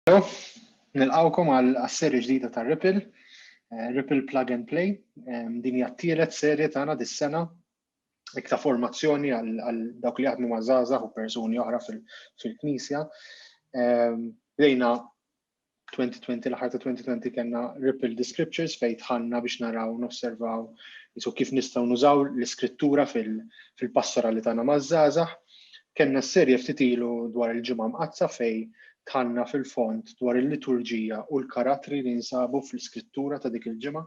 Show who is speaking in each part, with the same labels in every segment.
Speaker 1: Nilqawkom għas-serje ġdida ta' Ripple, Ripple Plug and Play. Din hija t-tielet serje tagħna dis-sena, dik ta' formazzjoni għal dawk li jaħdmu ma' żgħażagħ u persuni oħra fil-Knisja. Bdejna 2020 l-aħħar ta' 2020 kellna Ripple Descriptures fejn tħanna biex naraw nosservaw isu kif nistgħu nużaw l-iskrittura fil-pastorali tagħna maż-żgħażagħ. Kellna s-serje ftit ilu dwar il-ġimgħa mqaddsa fejn tħanna fil-fond dwar il-liturġija u l-karattri li jinsabu fl-iskrittura ta' dik il-ġimgħa.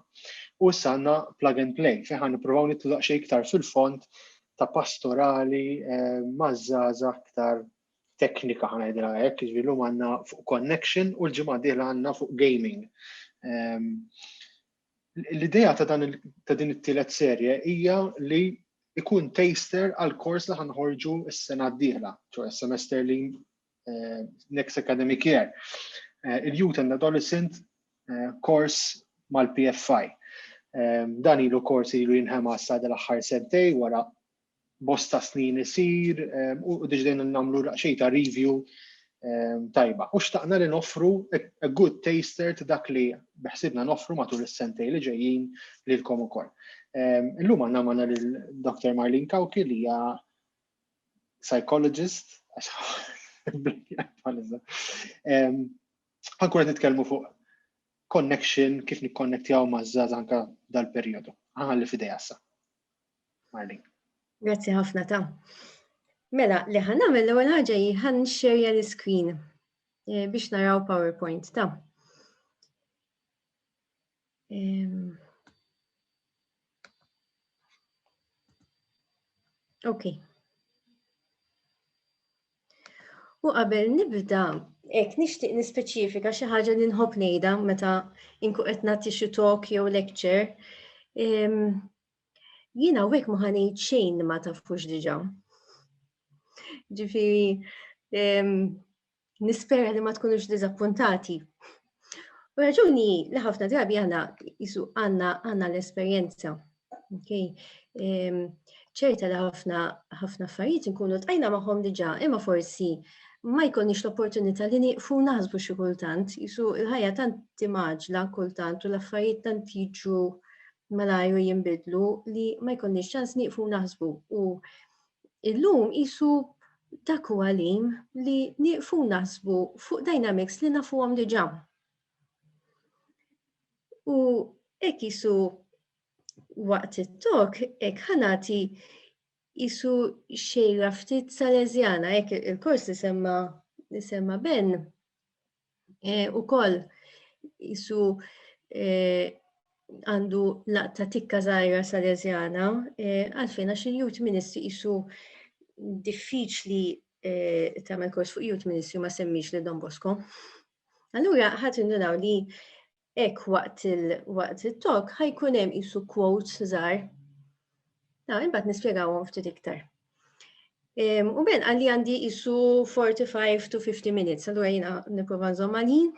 Speaker 1: U issa għandna plug and play fejn ħan nippruvaw nitlu daqsxejn iktar fil-fond ta' pastorali eh, maż-żgħażagħ iktar teknika ħana jidra hekk, jiġifieri llum għandna fuq connection u l-ġimgħa dieħla għandna fuq gaming. Ehm, l-idea ta' dan ta' din it-tielet serje hija li ikun taster għal kors li ħanħorġu s-sena d-dieħla, ċoħe semester li eh, next academic year. Eh, Il-youth and adolescent eh, course mal-PFI. Ehm, dan ilu kors ilu jinħema s-sad l-axħar sentej wara bosta snin isir u diġdejna nagħmlu xejn ta' review tajba. U xtaqna li noffru a good taster ta' dak li beħsibna noffru matul is-sentej li ġejjin lilkom ukoll. Illum għandna magħna lil Dr. Marlin Kawki li hija psychologist Għankun qed nitkellmu fuq connection kif nikkonnettjaw maż-żgħaż anke dal-perjodu. Ħalli f'idejha sa. Marlin. Grazzi
Speaker 2: ħafna ta. Mela, li ħan nagħmel l-ewwel ħaġa hi ħan xerja l-iskrin eh, biex naraw PowerPoint ta. Ehm. Ok. U qabel nibda, ek nixtieq nispeċifika xi ħaġa li nħobb ngħidha meta inkun qed nagħti xi talk jew lecture. Ehm, Jien hawnhekk ma ħanejt xejn li ma tafux diġà. Ġifieri ehm, nispera li ma tkunux diżappuntati. U raġuni li ħafna drabi għana jisu għanna għanna l-esperienza. Ehm, ċerta li ħafna ħafna affarijiet nkunu tajna maħom diġa, imma forsi ma jkunix l-opportunità li niqfu naħsbu xi kultant, jisu il-ħajja tant timaġla kultant u l-affarijiet tant jiġu malajr jinbidlu li ma jkollniex ċans nieqfu naħsbu u illum isu dak huwa għalim li nieqfu naħsbu fuq dynamics li nafuhom diġà. U hekk isu waqt it-tok hekk ħanati isu xejra ftit salezjana hekk il-kors li semma li semma Ben Eh, u koll, jisu eh, għandu laqta tikka zaħira salezjana, eh, għalfejn għax il-youth ministri jisu diffiċli tamel kors fuq youth ministri ma semmix li Don Bosco. Allura, ħat indunaw li Hekk waqt il waqt it-talk ħajkun hemm qisu quotes żgħar. Na, imbagħad nispjegawhom ftit iktar. Ehm, u ben għalli għandi qisu 45 to 50 minutes, allura jiena nipprova nżomm għalin.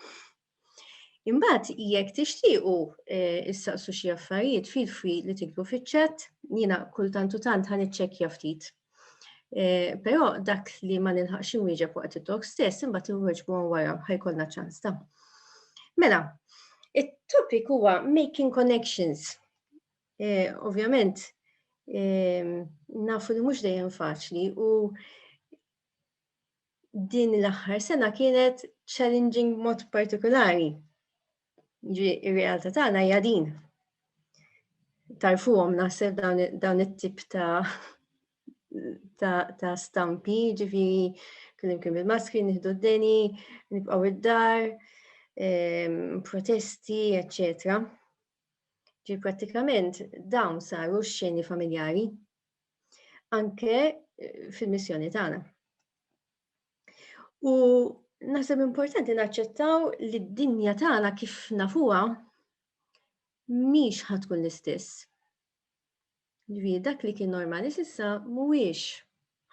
Speaker 2: Imbagħad jekk tixtiequ eh, issaqsu xi affarijiet fil free li tikbu fiċ-chat, jiena kultant u tant ħan iċċekkja ftit Eh, però dak li ma nilħaqx imwieġeb waqt it-talk stess imbagħad inweġbu wara ħajkollna ċans ta'. Mela, it-topic huwa making connections. Eh, ovvjament, ehm, nafu li mhux dejjem faċli u din l-aħħar sena kienet challenging mod partikolari. Ġi, ir-realtà tagħna hija din. Tarfuhom naħseb dawn it-tip ta' ta' stampi, ġifiri, kellim kien bil-maskri, nihdu d-deni, nibqaw id-dar, ehm, protesti, eccetera. Ġi pratikament dawn saru xeni familjari anke eh, fil-missjoni tagħna. U naħseb importanti naċċettaw li d-dinja tagħna kif nafuha mhix ħatkun l-istess. Ġifieri dak li kien normali s'issa mhuwiex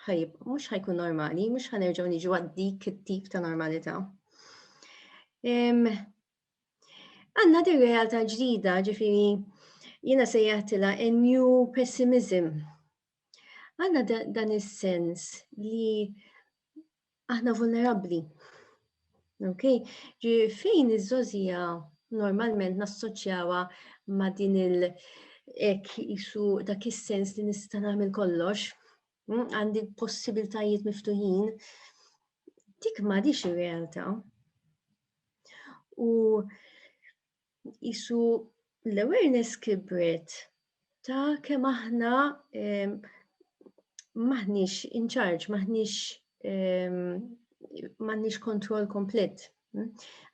Speaker 2: ħajib, mhux ħajkun normali, mhux ħanerġgħu niġu għaddik it-tip ta' normalità. Għanna dir realtà ġdida, ġifiri, jina sejjaħtila a new pessimism, Għanna dan is-sens li aħna vulnerabbli. Ok, ġi fejn iż-żożija normalment nassoċjawa ma' din il- ek jisu dak is-sens li nista' nagħmel kollox, hm, għandi possibiltajiet miftuħin, dik ma dix ir-realtà. U Isu l-awareness kibret ta' kemm aħna maħniex in charge, maħniex maħniex kontroll komplet. Hm?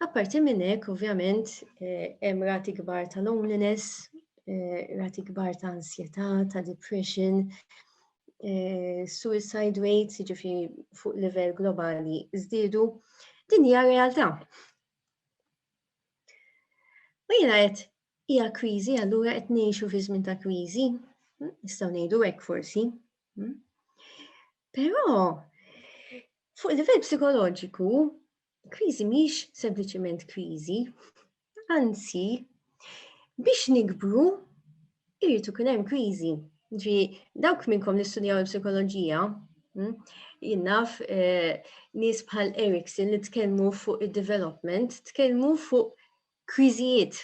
Speaker 2: Apparti minn hekk, ovvjament, eh, hemm rati kbar ta' loneliness, eh, rati kbar ta' ansjetà, ta' depression, eh, suicide rates, ġifi fuq livell globali, żdiedu. Din hija realtà. U jiena qed hija kriżi allura qed ngħixu fi żmien ta' kriżi, hm? nistgħu ngħidu hekk forsi. Hm? Però fuq livell psikoloġiku, kriżi mhix sempliċement kriżi, anzi biex nikbru Irid ikun hemm kriżi. Ġi dawk minnkom li studjaw il-psikoloġija, hm, jinnaf eh, nies bħal Erikson li tkellmu fuq id-development, tkellmu fuq kriżijiet.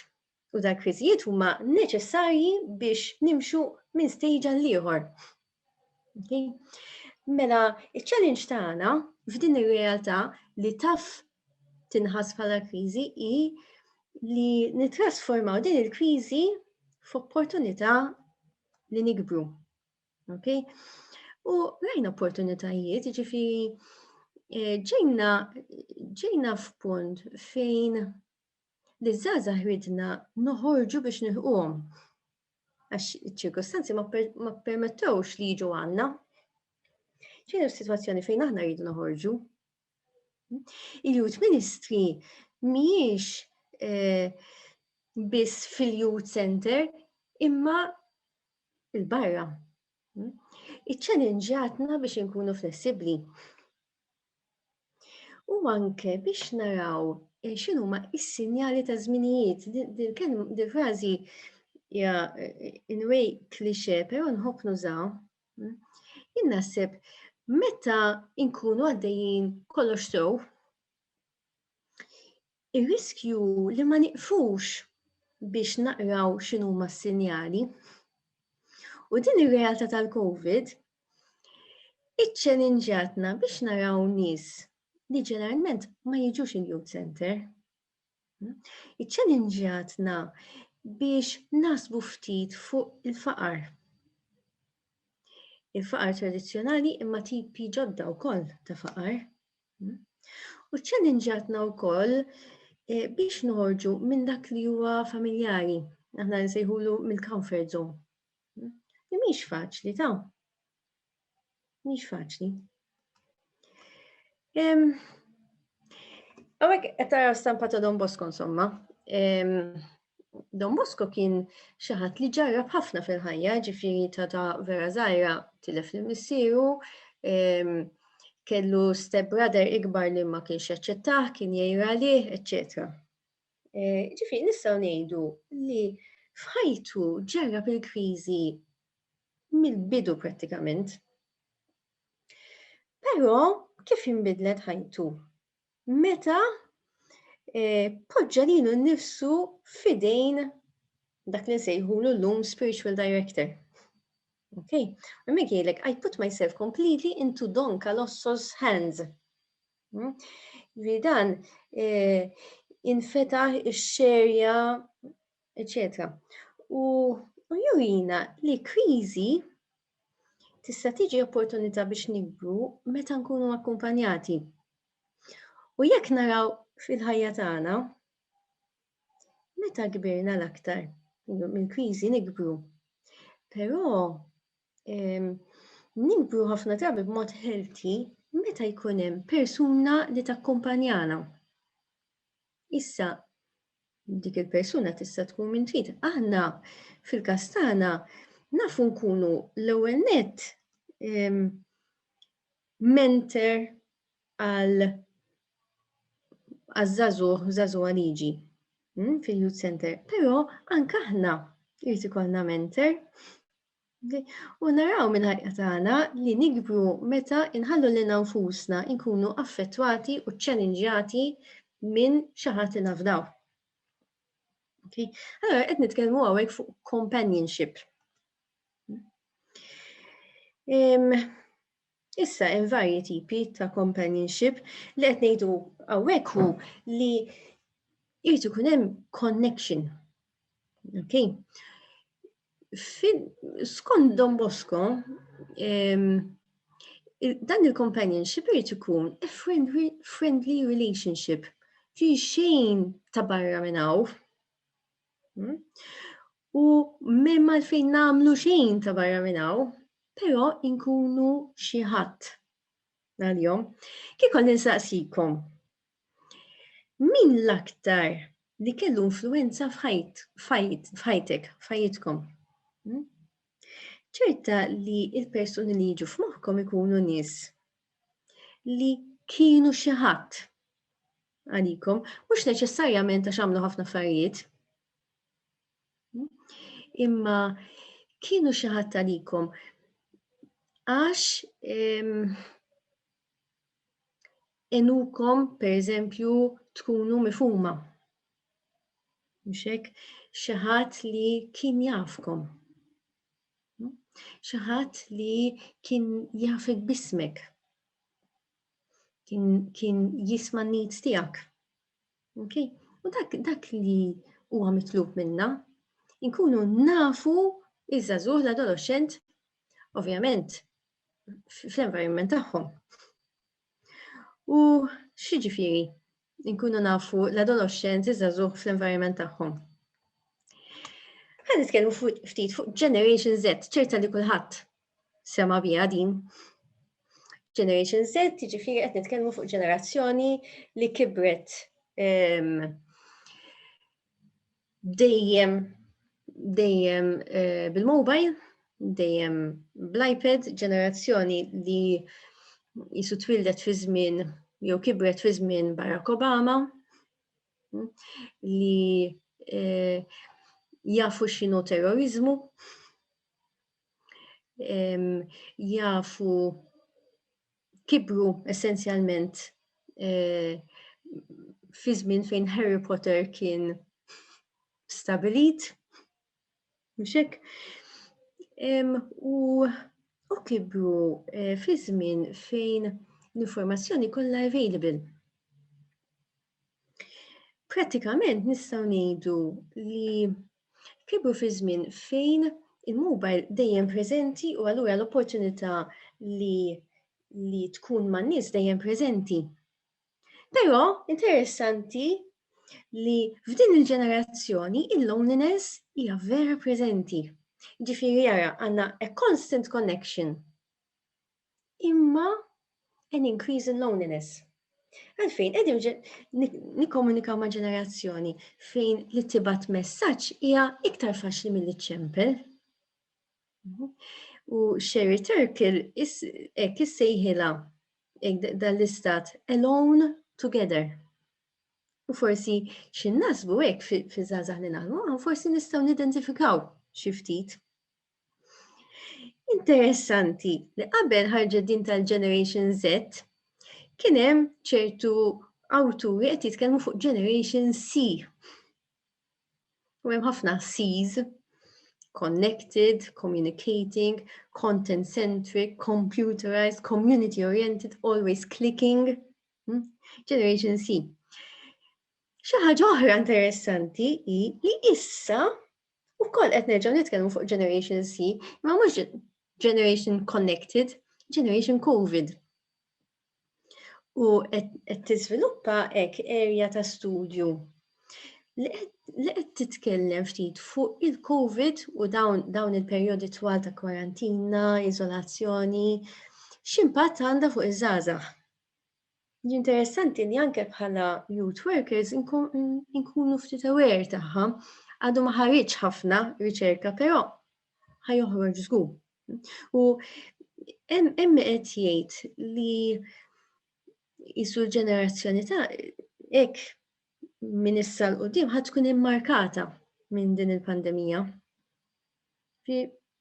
Speaker 2: U da kriżijiet huma neċessarji biex nimxu minn stage għall-ieħor. Mela, il-challenge tagħna f'din ir-realtà li taf tinħas bħala kriżi hi li nitrasformaw din il-kriżi f'opportunità li nikbru. Ok? U rajna opportunitajiet, ġifi eh, ġejna ġejna f'punt fejn li zaza ridna noħorġu biex nilquhom. Għax iċ-ċirkostanzi ma ppermettewx li jiġu għandna. X'inhu s-sitwazzjoni fejn aħna rridu noħorġu? Il-Youth Ministry mhijiex eh, biss fil-Youth Center imma il-barra. Iċ-challenge għatna biex inkunu flessibli. U anke biex naraw eh, x'inhuma s-sinjali ta' żminijiet. Dil-frażi ja eh, in way klixe, però nħobb nuża. Hmm? Jien naħseb meta nkunu għaddejjin kollox sew, Ir-riskju li ma nieqfux biex naqraw x'inhuma s-sinjali. U din ir-realtà tal-COVID iċċelinġatna biex naraw nies li ġeneralment ma jiġux il-youth center. Iċċelinġatna biex nasbu ftit fuq il-faqar. Il-faqar tradizzjonali imma tipi ġodda wkoll ta' faqar. U ċċellinġatna wkoll eh, biex noħorġu minn dak li huwa familjari, aħna nsejħulu mill-comfort zone. Hmm? Li mhix faċli ta' mhix faċli. Għawek, għettara stampa ta' Don Bosco, insomma, Don Bosco kien xi ħadd li ġarrab ħafna fil-ħajja, ġifieri ta' ta' vera żgħira tilef lil missieru, ehm, kellu step brother ikbar li ma kienx jaċċettah, kien jgħir għalih, etc. E, ġifi, nistgħu ngħidu li f'ħajtu ġerra il-kriżi mill-bidu prattikament. Però kif inbidlet ħajtu? meta eh, poġġa lilu nnifsu fidejn dak li nsejħulu llum spiritual director. Okay? U mek jgħidlek, I put myself completely into Don Calosso's hands. Hmm? Ġifieri dan eh, infetaħ ix-xerja, eccetera. U jurina li kriżi tista' tiġi opportunità biex nikbru meta nkunu akkumpanjati. U jekk naraw fil-ħajja tagħna, meta kbirna l-aktar mill-kriżi nikbru. Però ehm, nikbru ħafna drabi b'mod ħelti meta jkun hemm persuna li takkumpanjana. Issa, dik il-persuna tista' tkun minn ġid. Aħna fil-każ tagħna nafu nkunu l-ewwel net menter għal għazzazuħ, zazu għaliġi hmm, fil-Youth Center. Pero anka aħna jirti konna menter. U naraw minn ħajja tagħna li nikbru meta inħallu lil nfusna nkunu affettwati u ċċellinġjati minn xi ħadd li nafdaw. Okay? Allora, qed nitkellmu hawnhekk fuq companionship. Issa hemm varji tipi ta' companionship li qed ngħidu hawnhekk hu li jrid ikun hemm connection. Okay? Skont Don Bosco, dan il-companionship irid ikun a friendly, friendly relationship. Fi xejn ta' barra minn hawn. Hmm? U minn malfejn namlu xejn ta' barra minn hawn, però inkunu xi ħadd għal-jom. Kikon ninsaqsikom, min l-aktar li kellu influenza f'ħajtek, f'ħajtkom? Hmm? ċerta li il-persuni li jiġu f'moħħkom ikunu nies li kienu xi ħadd għalikom, mhux neċessarjament għax għamlu ħafna affarijiet. Imma kienu xi ħadd għalikom għax enukom per eżempju tkunu mifuma. Mxek, xaħat li kien jafkom. Xaħat li kien jafek bismek. Kien, kien jisma n-needs tijak. Ok? U dak, dak li huwa mitlub minna, inkunu nafu iżda zuħ l-adolescent, ovvjament, fl-environment tagħhom. U xieġifiri, inkunu nafu l-adolescent iżda zuħ fl-environment tagħhom. Għan nitkellmu ftit fuq Generation Z, ċerta li kulħadd sema biha din. Generation Z, ġifiri qed nitkellmu fuq ġenerazzjoni li kibret ehm, dejjem dejjem eh, bil-mobile, dejjem bl-iPad, ġenerazzjoni li jisu twildet fi żmien jew kibret fi żmien Barack Obama hm, li eh, jafu x'inhu terrorizmu jafu kibru essenzjalment eh, fi żmien fejn Harry Potter kien stabilit. Mxek? U u kibru eh, fi żmien fejn l-informazzjoni kollha available. Pratikament nistgħu ngħidu li kibru fi żmien fejn il-mobile dejjem preżenti u allura l-opportunità li li tkun ma' nies dejjem preżenti. Però interessanti li f'din il-ġenerazzjoni il-loneliness hija vera preżenti. Ġifieri jara għandna a constant connection imma an increase in loneliness. Għalfejn, għedim nikkomunika ma' ġenerazzjoni fejn li tibat messaċ hija iktar faċli mill ċempel U Sherry Turkle ek issejħila dal-istat alone together. U forsi xin nasbu ek fi zazah li naħlu, forsi nistaw nidentifikaw xiftit. Interessanti li qabel ħarġet din tal-Generation Z kien hemm ċertu awturi qed jitkellmu fuq Generation C. U hemm ħafna C's connected, communicating, content centric, computerized, community oriented, always clicking. Hmm? Generation C. Xi ħaġa oħra interessanti hi li issa Ukoll qed nerġgħu nitkellmu fuq Generation C, ma mhux Generation Connected, Generation COVID. U qed tiżviluppa hekk erja ta' studju li qed titkellem ftit fuq il-COVID u dawn dawn il-perjodi twal ta' kwarantina, iżolazzjoni, x'impatt għandha fuq iż-żgħażagħ. Interessanti li anke bħala youth workers inkunu ftit aware tagħha. Għadu ma ħaritx ħafna riċerka, però ħajoħroġ żgur. U hemm qed jgħid li jisu l-ġenerazzjoni ta' ek minn issa l-qoddim ħad tkun immarkata minn din il-pandemija.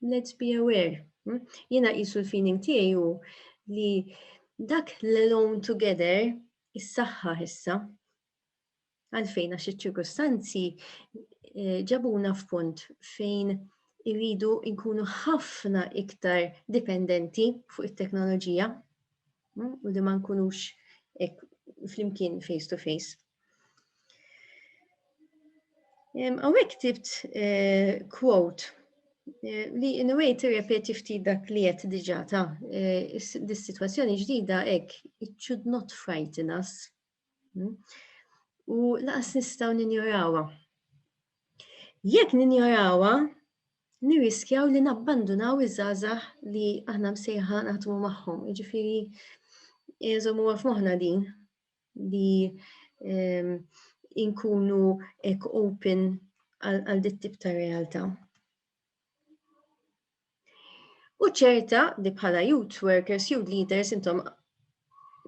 Speaker 2: Let's be aware. Hm? Jiena qisu l-feeling tiegħi hu li dak l-alone together is-saħħa issa. Għalfejn għax iċ-ċirkustanzi eh, ġabuna f'punt fejn iridu nkunu ħafna iktar dipendenti fuq it-teknoloġija hm? u li ma nkunux flimkien face to face. Għawek tibt eh, quote eh, li in a way tirrepeti ftit dak li qed diġà ta' eh, dis-sitwazzjoni ġdida hekk it should not frighten us. Hmm? U laqas nistgħu ninjorawha. Jekk ninjorawha, nirriskjaw li nabbandunaw iż-żgħażagħ li aħna msejħa naħdmu magħhom. Jiġifieri jeżomu għaf moħħna din. li ehm, inkunu ek open għal dit tip ta' realtà. U ċerta li bħala youth workers, youth leaders, intom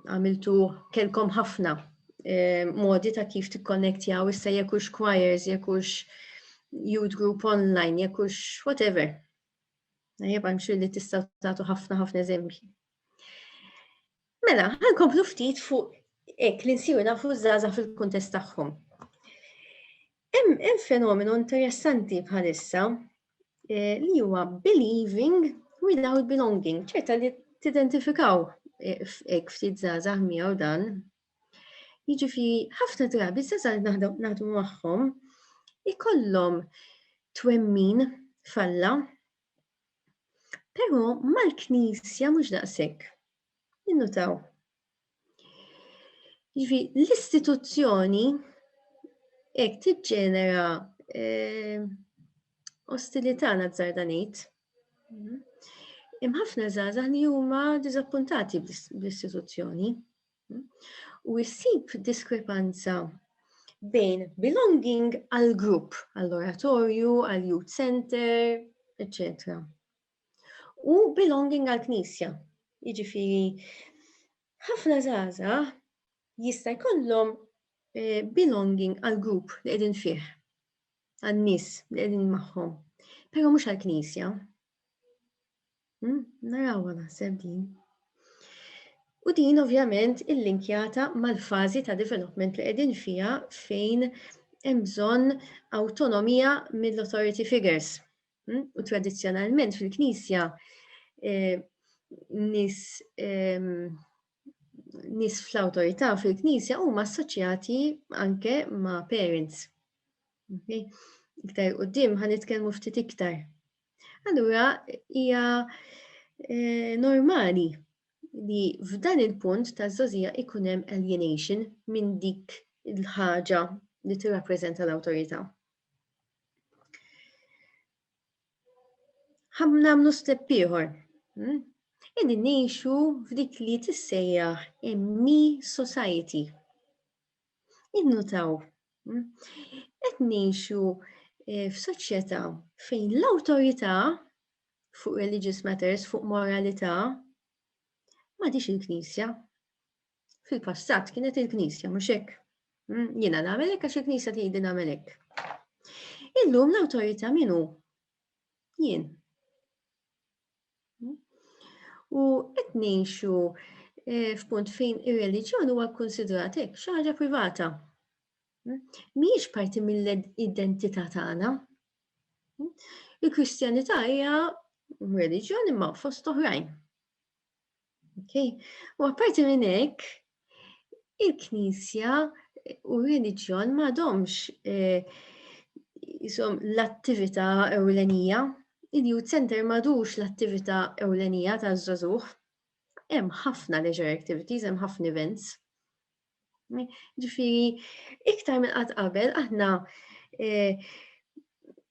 Speaker 2: għamiltu kelkom ħafna eh, modi ta' kif tikkonnektjaw issa jekux choirs, jekux youth group online, jekux whatever. Najjeb għamxu li tistaw tagħtu ħafna ħafna eżempji. Mela, ħankomplu ftit fuq ek li nsiru nafu zaza fil-kuntest tagħhom. Hemm fenomenu interessanti bħalissa eh, li huwa believing without belonging, ċerta li tidentifikaw eh, ek ftit zaza miegħu dan. Jiġifi ħafna drabi zaza li naħdu magħhom ikollhom twemmin falla Però mal-Knisja mhux daqshekk. Innutaw. Ġifi, l-istituzzjoni hekk tiġġenera eh, ostilità nazzar danit. Imħafna żgħażagħ li huma diżappuntati bl-istituzzjoni. U jsib diskrepanza bejn belonging għal grupp, għall-oratorju, għal youth center, etc. U belonging għal knisja. Jiġifieri ħafna zaza jista' jkollhom eh, belonging għal grupp li qegħdin fih, għal nies li qegħdin magħhom, però mhux għal knisja. Hmm, narawha naħseb din. U din ovvjament il-linkjata mal-fażi ta' development li qegħdin fiha fejn hemm bżonn awtonomija mill-authority figures. Hmm? U tradizzjonalment fil-Knisja eh, nis ehm, nis fl-autorità fil-Knisja huma assoċjati anke ma' parents. Iktar qudiem ħan nitkellmu ftit iktar Allura hija eh, normali li f'dan il-punt ta' żożija ikun hemm alienation minn dik il-ħaġa li tirrappreżenta l-awtorità. Ħam nagħmlu step ieħor. Hmm? Qegħdin ngħixu f'dik li tissejjaħ emmi society. Innutaw, mm, qed ngħixu eh, f'soċjetà fejn l-awtorità fuq religious matters, fuq moralità, ma dix il-Knisja. Fil-passat kienet il-Knisja, mhux hekk. Mm, jiena nagħmel hekk għax il-Knisja tgħidi nagħmel hekk. Illum l-awtorità minnu? Jien. U qed ngħixu eh, f'punt fejn ir-reliġjon huwa kkunsidrat hekk xi ħaġa privata. Hmm? Mhijiex parti mill-identità tagħna. Hmm? Il-Kristjanità hija reliġjon imma fost oħrajn. Okay. U apparti minn hekk, il-Knisja u r-reliġjon m'għadhomx eh, jisom l-attività ewlenija. Il-Youth Center m'għadux l-attività ewlenija ta' żagħżugħ. Hemm ħafna leisure activities, hemm ħafna events. Ġifieri, iktar minn qatt qabel aħna eh,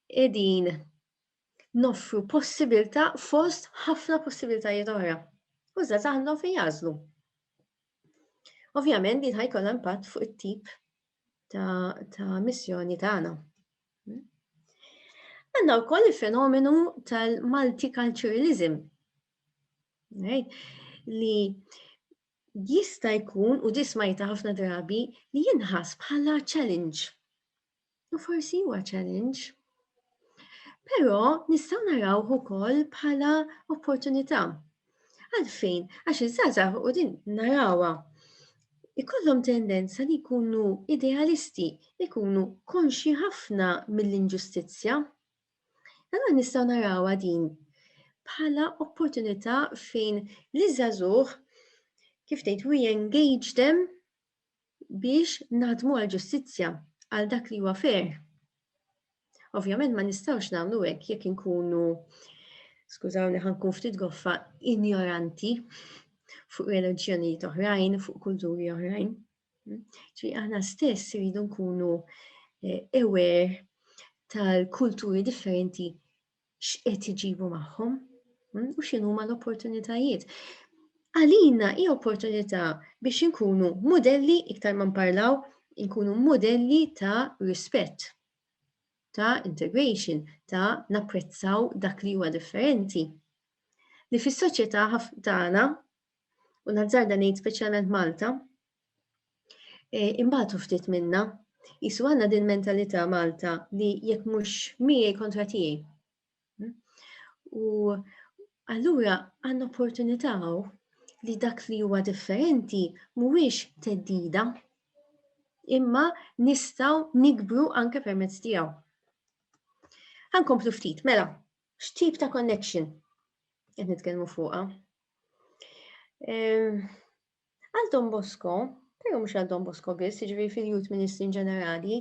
Speaker 2: edin noffru possibilità fost ħafna possibilitajiet oħra. U żgħażagħ għandhom fejn jażlu. Ovvjament din ħajkollha impatt fuq it-tip ta', ta missjoni tagħna. Hmm? Għandna wkoll il-fenomenu tal-multiculturalism. Right? Li jista' jkun u dismajta ħafna drabi li jinħas bħala challenge. U forsi huwa challenge. Però nistgħu narawh ukoll bħala opportunità. Għalfejn, għax iż-żgħażagħ u din narawha ikollhom tendenza li jkunu idealisti, li jkunu konxi ħafna mill-inġustizzja. Allora nistgħu narawha din bħala opportunità fejn l-iżgħażugħ kif tgħid we engage them biex naħdmu għal ġustizzja għal dak li huwa fair. Ovvjament ma nistgħux nagħmlu hekk jekk inkunu skużawni ħankun ftit goffa injoranti fuq reliġjonijiet oħrajn, fuq kulturi oħrajn. Ġi aħna stess rridu nkunu eh, aware tal-kulturi differenti x'qed iġibu magħhom hm, u x'inhuma l-opportunitajiet. Għalina hija opportunità biex inkunu modelli iktar ma nparlaw, inkunu modelli ta' rispett, ta' integration, ta' napprezzaw dak li huwa differenti. Li fis-soċjetà tagħna u nazzarda ngħid speċjalment Malta, E, imbagħad ftit minna, jisu għandna din mentalità Malta li jekk mhux miegħi kontra tiegħi. Hmm? U allura għandna opportunità li dak li huwa differenti mhuwiex teddida, imma nistaw nikbru anke permezz tiegħu. Ħankomplu ftit, mela, x'tip ta' connection qed nitkellmu fuqha. Ehm, għal Don Bosco, pero mux għal Don Bosco biss, ġviri fil-Youth Ministry in ġenerali,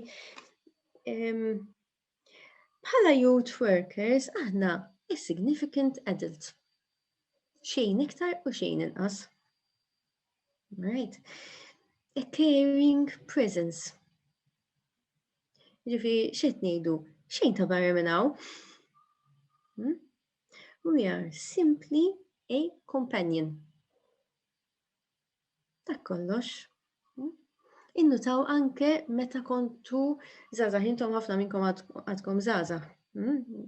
Speaker 2: bħala youth workers aħna a significant adult. Xejn iktar u xejn inqas. Right? A caring presence. Ġifi, xet nejdu, xejn ta' barra minnaw. Hmm? We are simply a companion. Dak kollox. Innutaw anke meta kontu zaza, jintom ħafna minnkom għadkom zaza. Hmm?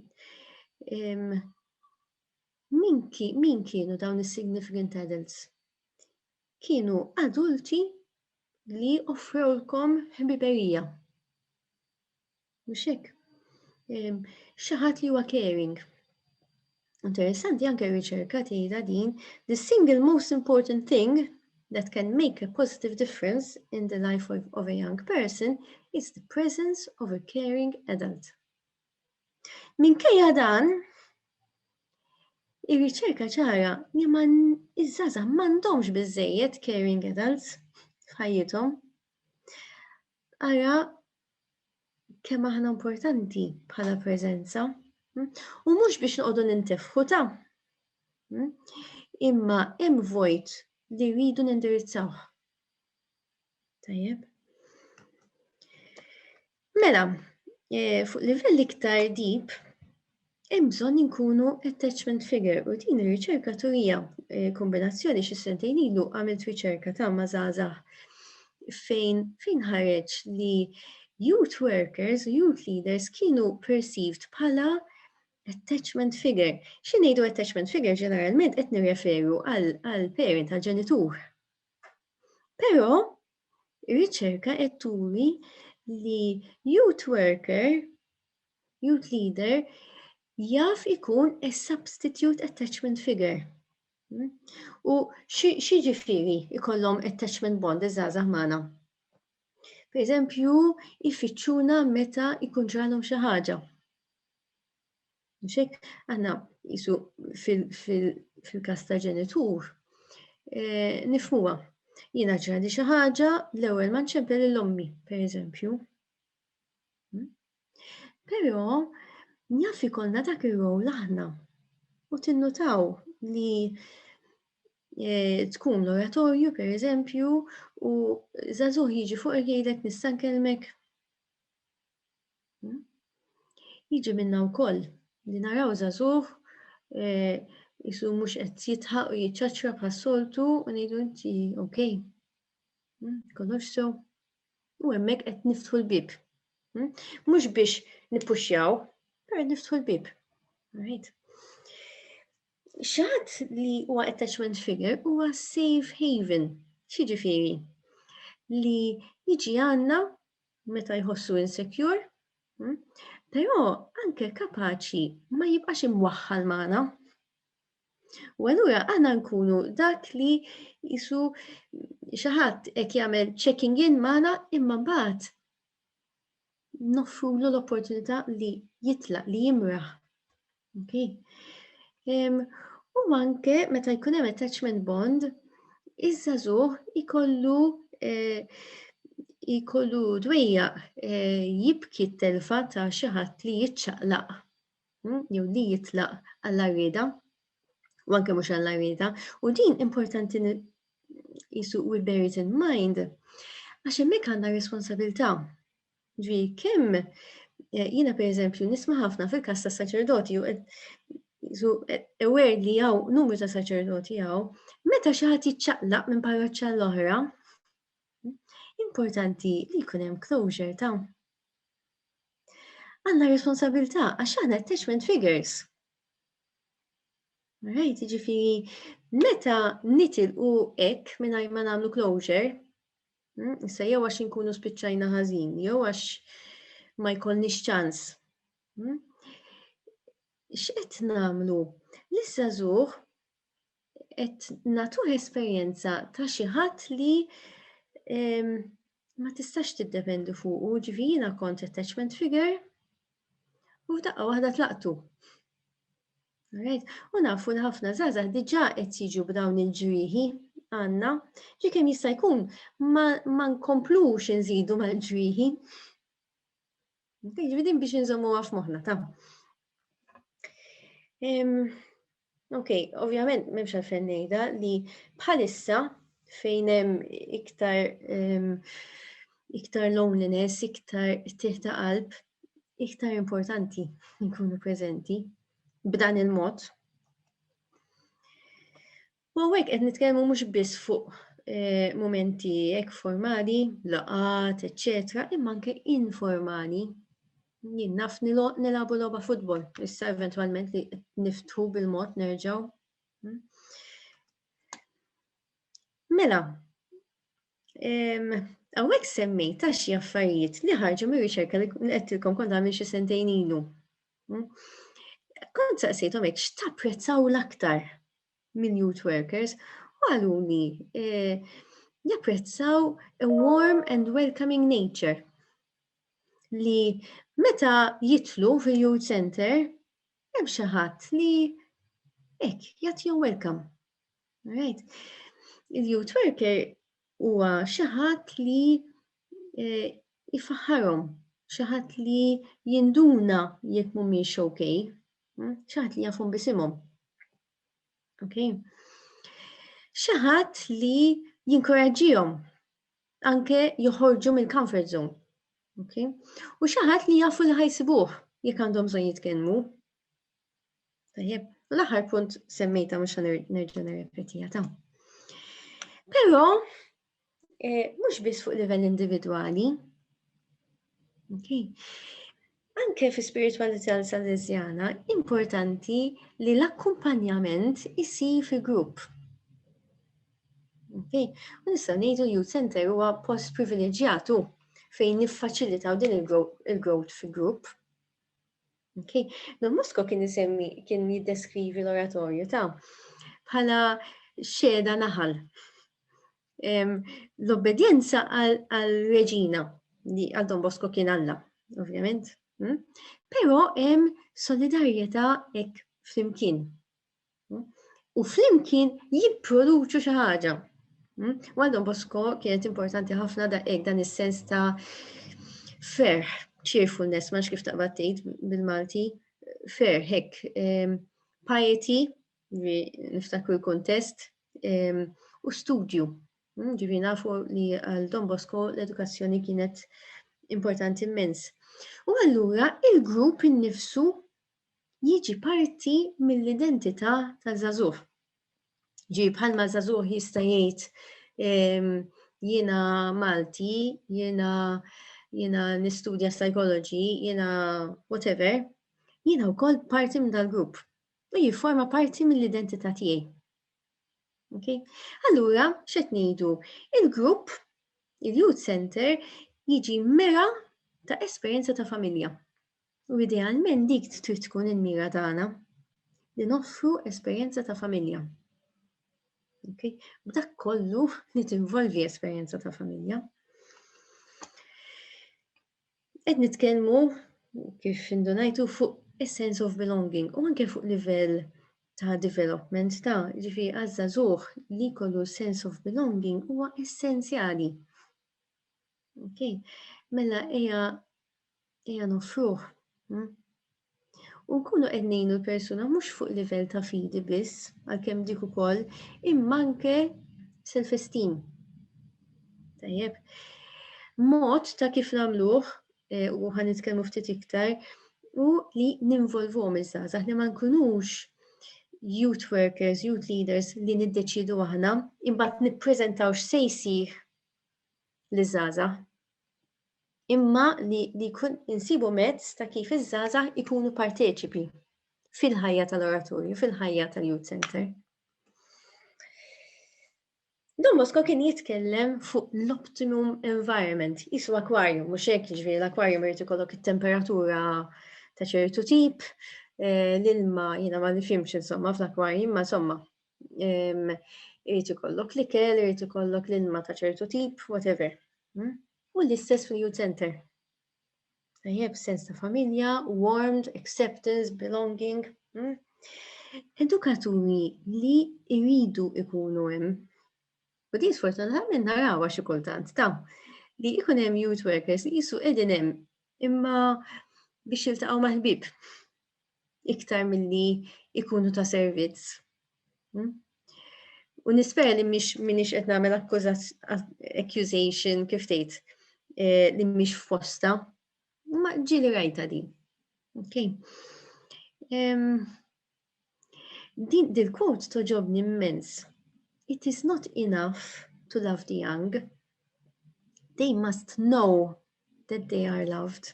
Speaker 2: Min kienu dawn is-significant adults? Kienu adulti li offrewlkom ħbiberija. Mhux hekk. Ehm, xi ħadd li huwa caring. Interessanti anke r-riċerka tgħidha din, the single most important thing that can make a positive difference in the life of, of a young person is the presence of a caring adult. Minkejja dan, ir-riċerka ċara li man iż-żaza m'għandhomx biżejjed caring adults f'ħajjithom. Ara kemm aħna importanti bħala preżenza hm? u mhux biex noqogħdu nintefħu ta' hm? imma hemm vojt li rridu nindirizzawh. Tajjeb. Mela, eh, fuq livell iktar deep, Hemm bżonn inkunu attachment figure u din ir-riċerka turija eh, kombinazzjoni xi sentejn ilu għamilt riċerka ta' ma' żgħażagħ fejn fejn ħareġ li youth workers, youth leaders kienu perceived bħala attachment figure. Xinejdu attachment figure ġeneralment qed nirreferu għal parent, għal ġenitur. Però Ir-riċerka qed turi li youth worker, youth leader, jaf ikun a substitute attachment figure. Hmm? U xi ġifieri ikollhom attachment bond iż-żgħażagħ magħna? Per eżempju, ifittxuna meta ikun ġralhom xi ħaġa. Mhux hekk? Aħna qisu fil-każ ta' ġenitur eh, nifhmuha. Jiena ġradi xi ħaġa l-ewwel ma nċempel lil ommi, pereżempju. Hmm? Però jaf ikollna dak ir-rol aħna u tinnutaw li Eh, tkun l-oratorju per eżempju u zazuħ jiġi fuq jgħidlek nista' nkellmek. Hmm? Jiġi minna wkoll li naraw żagħżugħ eh, jisu mhux qed jitħaq u jiċċaċċra bħas-soltu u ngħidu inti ok. Hmm? Kollox sew. U hemmhekk qed niftħu l-bib. Hmm? Mhux biex nippuxjaw, però niftħu l-bib. Right? Xaħat li huwa attachment figure huwa safe haven. X'jiġifieri? Li jiġi għandna meta jħossu insecure, hm? però anke kapaċi ma jibqax imwaħħal magħna. U allura aħna nkunu dak li jisu xi ħadd qed jagħmel checking in magħna imma mbagħad noffru l-opportunità li jitla, li jimraħ. Okay. Um, u manke meta jkun hemm attachment bond, iż-żagħżugħ ikollu eh, ikollu dwejja eh, jibki t-telfa ta' xi ħadd li jiċċaqlaq hmm, jew li jitlaq għall rida u anke mhux għall rida u din importanti jisu we bear it in mind għax hemmhekk għandna responsabilità Ġvi, kemm eh, jiena per eżempju nisma' ħafna fil-kas ta' saċerdoti u ewer eh, li jaw numru ta' saċerdoti jaw, meta xi ħadd jiċċaqlaq minn parroċċa l-oħra, importanti li jkun hemm closure ta' għandna responsabilità għax aħna attachment figures. Right, ġifiri, meta nitilqu ek minn ma namlu closure, Hmm, issa jew għax inkunu spiċċajna ħażin, jew għax ma jkollniex ċans. Hmm? X'qed nagħmlu? Lissa żuh qed nagħtuh esperjenza ta' xi ħadd li ehm, ma tistax tiddependi fuq u ġifi jiena kont attachment figure u daqqa waħda tlaqtu. Right. U nafu li ħafna żgħażagħ diġà qed jiġu b'dawn il-ġrieħi għandna, ġi kemm jista' jkun ma nkomplux inżidu mal-ġrieħi. Ġvidin biex nżommu għaf moħna, ta' Ok, ovvjament memx għalfen nejda li bħalissa fejn hemm iktar iktar loneliness, iktar tieħ ta' qalb, iktar importanti jkunu preżenti b'dan il-mod. U għawek qed nitkellmu mhux biss fuq eh, momenti hekk formali, laqat, eċċetera, imma anke informali. Jien naf nilabu logħba futbol, issa eventwalment li niftħu bil-mod nerġgħu. Hmm? Mela, għawek semmejta xi affarijiet li ħarġu mir riċerka li għettilkom kont għamil xi sentejn ilu. Hmm? Kont saqsejtom hekk x'tapprezzaw l-aktar minn youth workers u għaluni eh, japprezzaw a warm and welcoming nature li meta jitlu fil-youth center hemm xi ħadd li hekk jagħtihom welcome Right. Il-youth worker huwa xi ħadd li eh, ifaħħarhom, xi ħadd li jinduna jekk mhumiex ok, hmm? xi ħadd li jafhom bisimhom. Ok? Xi ħadd li jinkoraġġihom anke joħorġu mill-comfort zone. Ok? U xi ħadd li jafu li ħajsibuh jekk għandhom bżonn jitkellmu. Tajjeb, u l-aħħar punt semmejta mhux nerġa' nirrepetija ta'. Però eh, mhux biss fuq livell individwali. Okay. Anke fi spiritualità salesjana importanti li l-akkumpanjament isir fi grupp. Okay. U nistgħu ngħidu youth center huwa post privileġġjatu fejn niffaċilitaw din il-growth fi grupp. Okay. Don Bosco kien isemmi, kien jiddeskrivi l-oratorju ta' bħala xeda naħal. L-obbedjenza għal-reġina li għal Don Bosco kien Alla, ovvjament. Hm? Pero hemm solidarjetà ek flimkien. U flimkien jipproduċu xi ħaġa. Għaldon Bosco kienet importanti ħafna da ek dan is-sens ta' ferħ, cheerfulness, ma kif taqbad tgħid bil-Malti, ferħ hekk ehm, piety, niftakru l-kontest, ehm, u studju. Hmm, ġivi nafu li għal Don Bosco l-edukazzjoni kienet importanti immens. U allura il-grupp innifsu jiġi parti mill-identità ta' żagħżugħ. Ġi bħalma żagħżugħ jista' jgħid ehm, jiena Malti, jiena jiena nistudja psychology, jiena whatever, jiena wkoll parti minn dal-grupp u jifforma parti mill-identità tiegħi. Okay? Allura, xet ngħidu, il-grupp, il-youth center, jiġi mera ta' esperjenza ta' familja. U idealment dik trid tkun il-mira tagħna li noffru esperjenza ta' familja. Okay? B'dak kollu li tinvolvi esperjenza ta' familja. Qed nitkellmu kif indunajtu fuq a sense of belonging u anke fuq livell ta' development ta' ġifi għazza zuħ li kollu sense of belonging huwa essenzjali. Okay? Mela eja Ejja nofruh. Hm? U nkunu qed ngħinu l-persuna mhux fuq livell ta' fidi biss, għalkemm dik ukoll, imma anke self-esteem. Tajjeb. Mod ta' kif nagħmluh e, u ħan nitkellmu ftit iktar, u li ninvolvuhom iż-żgħażagħ li ma nkunux youth workers, youth leaders li niddeċidu aħna, imbagħad nippreżentaw x'se jsir li żgħażagħ. imma li jkun insibu mezz ta' kif iż-żgħażagħ ikunu parteċipi fil-ħajja tal-oratorju, fil-ħajja tal-Youth Center. Don Bosco kien jitkellem fuq l-optimum environment, jisu akwarju, mhux hekk ġifieri l-akwarju irid ikollok it-temperatura ta' ċertu tip, eh, l-ilma jiena ma nifhimx insomma fl-akwarju, imma insomma Irid ikollok l-ikel, irid ikollok l-ilma ta' ċertu tip, whatever. Hmm? U l-istess fil-youth center. Tajjeb, sens ta' familja, warmed, acceptance, belonging. Hmm? Edukaturi li iridu ikunu hemm. U di sfortunatament naraw xi kultant ta' li ikun hemm youth workers li jisu qegħdin hemm imma biex jiltaqgħu mal-ħbib. iktar milli ikunu ta' servizz. Hmm? U nispera li mhix minix qed nagħmel accusation kif tgħid eh, li mhix fosta. Ma ġieli rajta din. Okay. Din dil-quote toġobni immens. It is not enough to love the young. They must know That they are loved.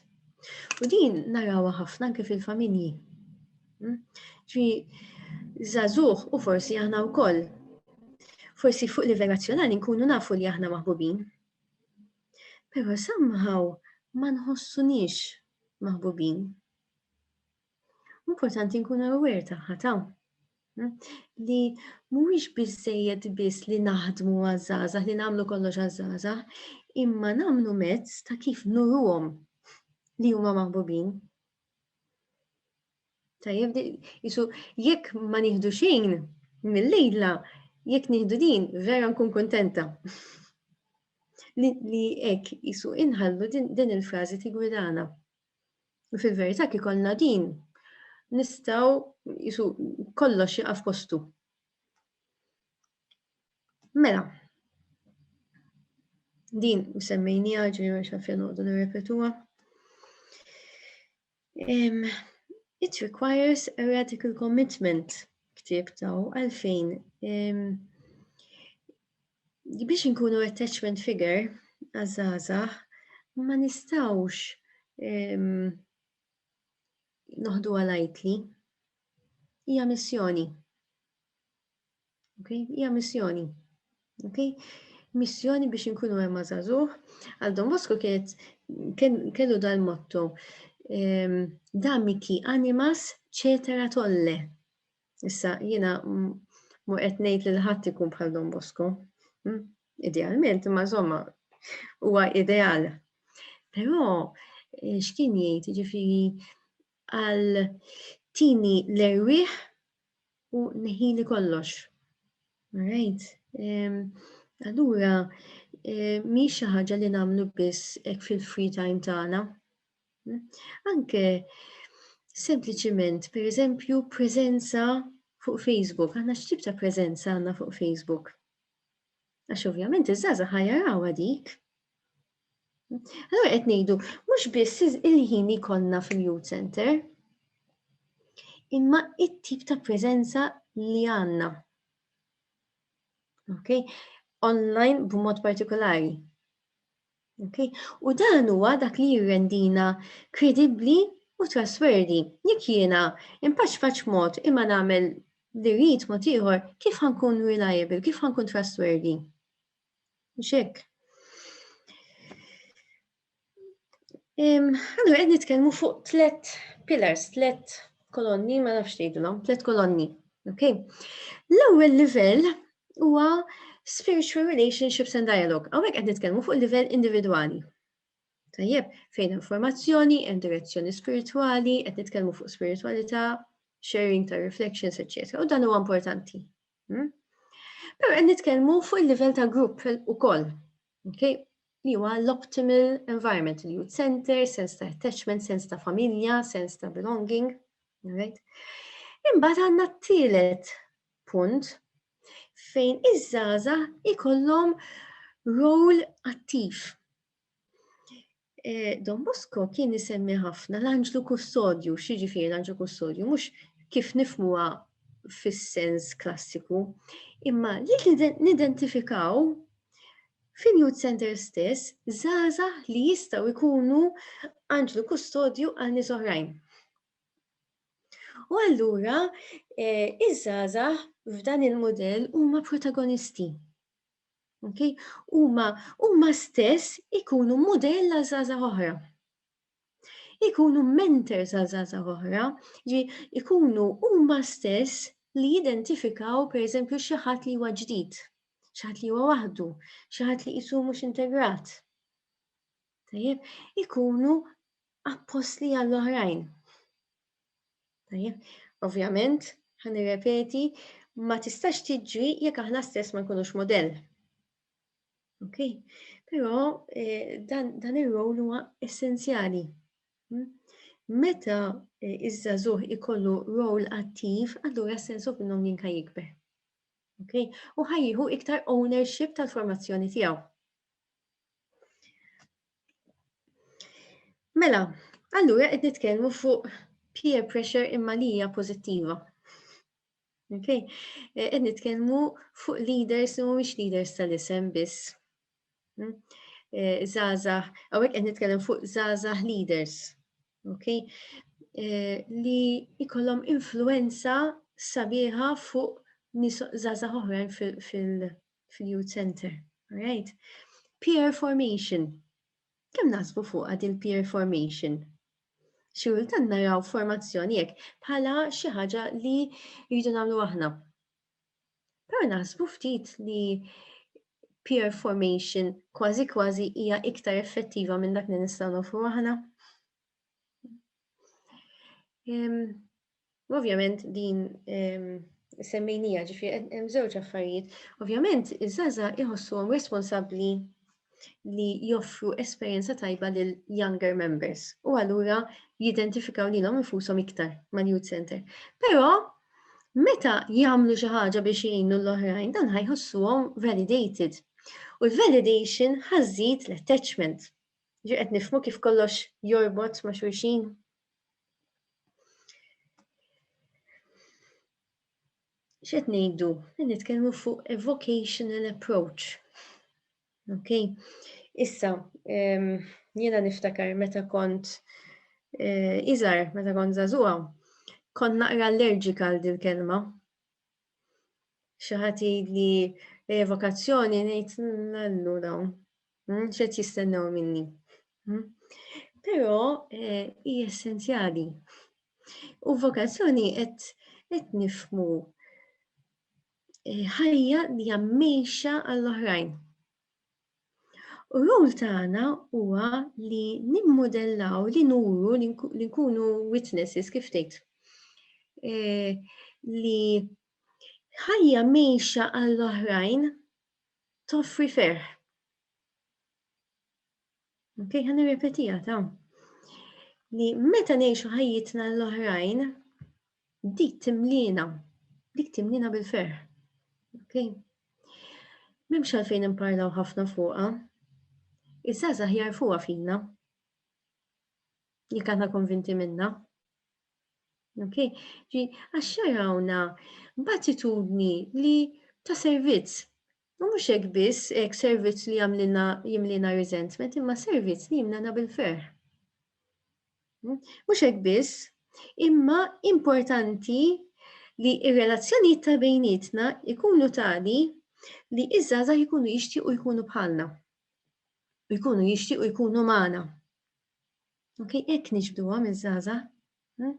Speaker 2: U din narawa ħafna anke fil-familji. Hmm? Ġi, zazuħ u forsi aħna u koll. Forsi fuq livell razzjonali nkunu nafu li aħna maħbubin. Pero somehow ma nħossunix maħbubin. Importanti nkunu aware tagħha ta' hmm, li mhuwiex biżejjed biss li naħdmu għaż-żgħażagħ, li nagħmlu kollox għaż-żgħażagħ, imma nagħmlu mezz ta' kif nuruhom li huma maħbubin. Tajjeb, jisu jekk ma nieħdu xejn mill-lejla, jekk nieħdu din, vera nkun kontenta. li hekk jisu inħallu din il-frażi tigwidana. U fil-verità kif kollna din nistgħu jisu kollox jaqaf postu. Mela, din semmejnija ġiri ma xafja noqdu nirrepetuha. It requires a radical commitment, ktieb taw, għalfejn. biex inkunu attachment figure għaż-żgħażagħ ma nistgħux ehm, noħdu għalajtli. Hija missjoni. Okay? Hija missjoni. Okay? Missjoni biex inkunu hemm għażagħżugħ. Għal Don Bosco kienet kellu dal-motto ehm, damiki animas cetera tolle. Issa jiena mu qed ngħid li l-ħadd ikun bħal Don Bosco. Hm? Idealment, imma żomma, huwa ideal. Però eh, x'kien jgħid, ġifieri għal tini l-erwieħ u neħili kollox. Right? Allura, eh, mi xi ħaġa li nagħmlu biss hekk fil-free time tagħna. Anke sempliċiment, pereżempju, preżenza fuq Facebook. Aħna x'tib ta' preżenza għandna fuq Facebook? Għax ovvjament iż-żaza ħajarawa dik. Allora qed ngħidu mhux biss il-ħin jkollna fil-youth center, imma it-tip ta' preżenza li għandna. Ok? Online b'mod partikolari. Okay? U dan huwa dak li jirrendina kredibbli u trustworthy. Jekk jiena impaċċ mod imma nagħmel li rrid mod ieħor, kif ħankun reliable, kif ħankun trustworthy? Xek. Allora, qed nitkellmu fuq tlet pillars, tlet kolonni, ma nafx tgħidulhom, tlet kolonni. Okay? L-ewwel livell huwa spiritual relationships and dialogue. Hawnhekk qed nitkellmu fuq livell individwali. Tajjeb, fejn informazzjoni, hemm direzzjoni spiritwali, qed nitkellmu fuq spiritwalità, sharing ta' reflections, etc. U dan huwa importanti. Hmm? Però qed nitkellmu fuq il-livell ta' grupp ukoll. Okay? Li huwa l-optimal environment, li youth center, sens ta' attachment, sens ta' familja, sens ta' belonging. Right? Imbagħad għandna t-tielet punt fejn iż-żgħażagħ ikollhom rol attiv. Eh, Don Bosco kien isemmi ħafna l-anġlu kustodju, xieġifieri l-anġlu kustodju, mhux kif nifmuha fis-sens klassiku, imma li nidentifikaw fil-Youth Center stess zaza li jistaw ikunu anġlu kustodju għal nies oħrajn. U allura eh, iż-żgħażagħ f'dan il-mudell huma protagonisti. Okay? Huma huma stess ikunu mudell għal żgħażagħ oħra. Ikunu mentors għal żgħażagħ oħra, ġi ikunu huma stess li jidentifikaw pereżempju xi ħadd li huwa ġdid, xi ħadd li huwa waħdu, xi ħadd li qisu mhux integrat. Tajjeb, ikunu appostli għall-oħrajn. Ovvjament, ħan irrepeti, ma tistax tiġri jekk aħna stess ma nkunux modell. Ok? Però eh, dan, dan ir-rol huwa essenzjali. Hmm? Meta eh, iż-żagħżugħ ikollu rol attiv, allura sens of belonging ħaj jikber. Ok? U ħajjiħu iktar ownership tal-formazzjoni tiegħu. Mela, allura qed nitkellmu fuq peer pressure imma li hija pożittiva. Okay? Eh, qed nitkellmu fuq leaders li mhumiex leaders tal-isem biss. Hmm? Eh, zaza, għawek qed nitkellem fuq zaza leaders. Okay? Eh, li jkollhom influenza sabiħa fuq zaza oħrajn fil-youth center. Right? Peer formation. Kemm nasbu fuq għad il-peer formation? Xi kultant naraw formazzjoni jekk bħala xi ħaġa li jridu nagħmlu aħna. Però naħsbu ftit li peer formation kważi kważi hija iktar effettiva minn dak li nistgħu nofru aħna. Ovvjament din semmejnija ġifi hemm żewġ affarijiet. Ovvjament iż-żaza iħossuhom responsabbli li joffru esperjenza tajba lil younger members u allura jidentifikaw lilhom infushom iktar mal-Youth Center. Però meta jagħmlu xi ħaġa biex jgħinu l-oħrajn dan ħajħossuhom validated. U l-validation ħażid l-attachment. Ġi qed nifmu kif kollox jorbot ma' xulxin. X'qed ngħidu? Qed nitkellmu fuq a vocational approach. Ok? Issa, ehm, jiena niftakar meta kont eh, iżar, meta kont zazuwa, kont naqra allerġika għal dil-kelma. Xi ħadd jgħidli eh, vokazzjoni ngħid nallu dawn. Hmm, X'qed jistennew minni. Hmm. Però eh, hija essenzjali. U vokazzjoni qed qed nifmu eh, ħajja li hija mejxa għall-oħrajn. U r-rol tagħna huwa li nimmodellaw li nuru li nkunu witnesses kif tgħid. E, li ħajja mejxa għall-oħrajn toffri ferħ. Ok, ħan nirrepetija ta' li meta ngħixu ħajjitna l-oħrajn, dik timlina, dik timlina bil-ferħ. Ok? Memx għalfejn imparlaw ħafna fuqa, iż-żaza ħjar fuqa fina. Jek għana konvinti minna. Ok? Ġi, għaxxarawna batitudni li ta' servizz U mhux hekk biss, hekk servizz li jagħmlilna jimlina resentment imma servizz li jimlana bil-ferħ. Hmm? Mhux hekk biss, imma importanti li ir-relazzjonijiet ta' bejnietna ikunu tali li iż-żgħażagħ ikunu jixtiequ jkunu bħalna. U jkunu jixtiequ jkunu magħna. Ok, hekk niġbduhom iż-żgħażagħ, Hmm?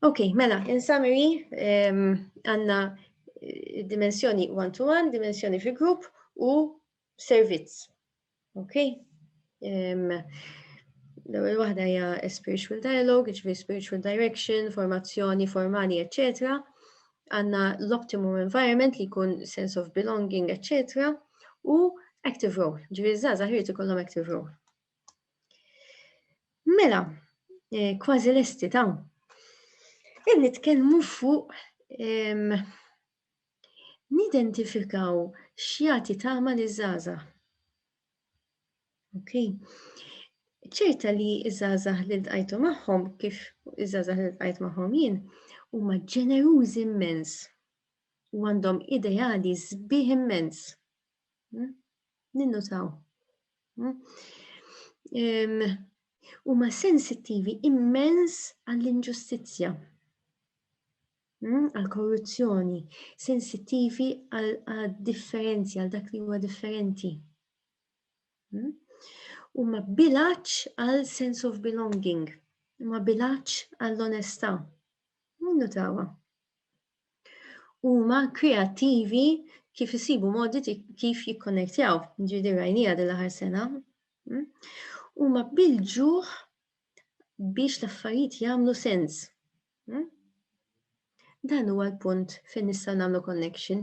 Speaker 2: Ok, mela, in summary, għanna eh, dimensjoni one-to-one, dimensjoni fi grupp u servizz. Ok? L-ewwel waħda hija spiritual dialogue, ġifieri spiritual direction, formazzjoni formali, eċetera. Għandna l-optimum environment li jkun sense of belonging, eċetera, u active role, ġifieri żgħażagħ irid ikollhom active role. Mela, eh, kważi lesti ta' Qed nitkellmu fuq nidentifikaw x'jagħti tama li żgħażagħ. Ok. ċerta li iżgħażagħ li ltqajtu magħhom kif iżgħażagħ li ltqajt magħhom jien huma ġenerużi immens u għandhom ideali sbieħ immens. Hmm? Ninnutaw. Hmm? Huma sensittivi immens għall-inġustizzja, hmm? għall-korruzzjoni, sensittivi għal-differenzi, għal dak li huwa differenti. Hmm? Huma bilaċ għal sense of belonging, huma bilaċ għall-onestà. Ninnutawa. Huma kreattivi kif isibu modi kif jikkonnektjaw, ġidi rajnija din l-aħħar sena. Hmm? Huma bil-ġuħ biex l-affarijiet jagħmlu sens. Hmm? Dan huwa l-punt fejn nistgħu nagħmlu connection.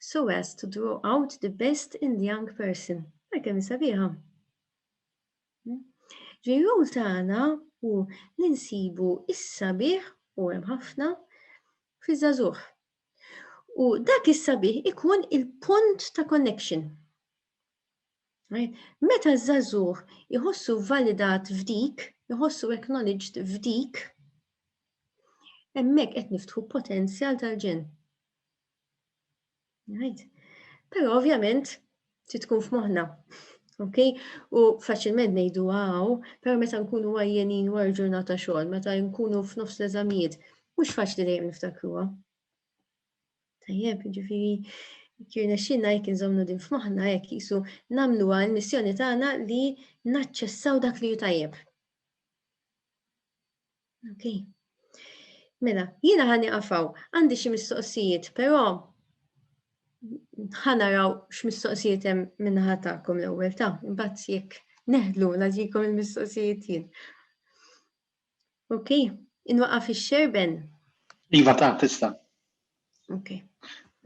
Speaker 2: So as to draw out the best in the young person. Għalkemm sabiħa. Hmm? Ġejjol tagħna u ninsibu is-sabiħ u hemm ħafna fi żagħżugħ. U dak is-sabiħ ikun il-punt ta' connection. Right? Meta żagħżugħ iħossu validat f'dik, iħossu acknowledged f'dik, hemmhekk qed niftħu potenzjal tal-ġen. Right. Però ovvjament ti tkun f'moħħna. Ok? U faċilment nejdu għaw, pero meta nkunu għajjenin war ġurnata xogħol, meta nkunu f'nofs l-eżamijiet, mhux faċli dejjem niftakruha. Tajjeb, ġifiri, kirna xinna jek nżomnu din f'maħna jek jisu namlu għal missjoni tagħna li naċċessaw dak li tajjeb. Ok. Mela, jiena ħani għafaw, għandi xi mistoqsijiet, però ħanaraw x'mistoqsijiet hemm minnaħa tagħkom l-ewwel ta' imbagħad jekk neħdlu naġikom il-mistoqsijiet jien. Ok, inwaqaf ix-xerben. Iva ta'
Speaker 1: tista. Ok.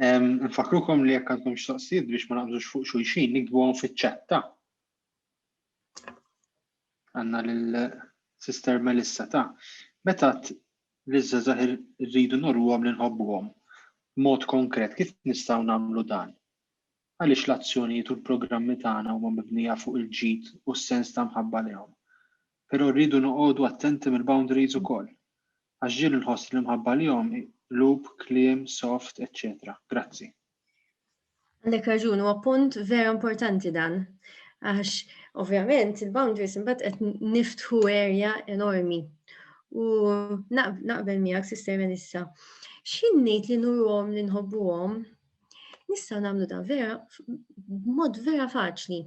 Speaker 1: Nfakrukom li jekk għandkom x'toqsijiet biex ma naqbżux fuq xulxin nikbu għon fiċ-ċatta. Għanna l-Sister Melissa ta' meta li żgħażagħ irridu norruhom li nħobbuhom. Mod konkret kif nistgħu nagħmlu dan? Għaliex l-azzjonijiet u l-programmi tagħna huma mibnija fuq il-ġid u s-sens ta' mħabba lejhom. Però rridu noqogħdu attenti mill-boundaries ukoll. Għax ġieli nħoss li l-imħabba lihom hi qlub, kliem, soft, eċċetera Grazzi.
Speaker 2: Għandek raġun, huwa punt vera importanti dan. Għax, ovvjament, il-boundaries imbagħad qed niftħu erja enormi. U naqbel miegħek sister Melissa. X'in ngħid li nurhom li nħobbuhom nistgħu nagħmlu dan vera b'mod vera faċli.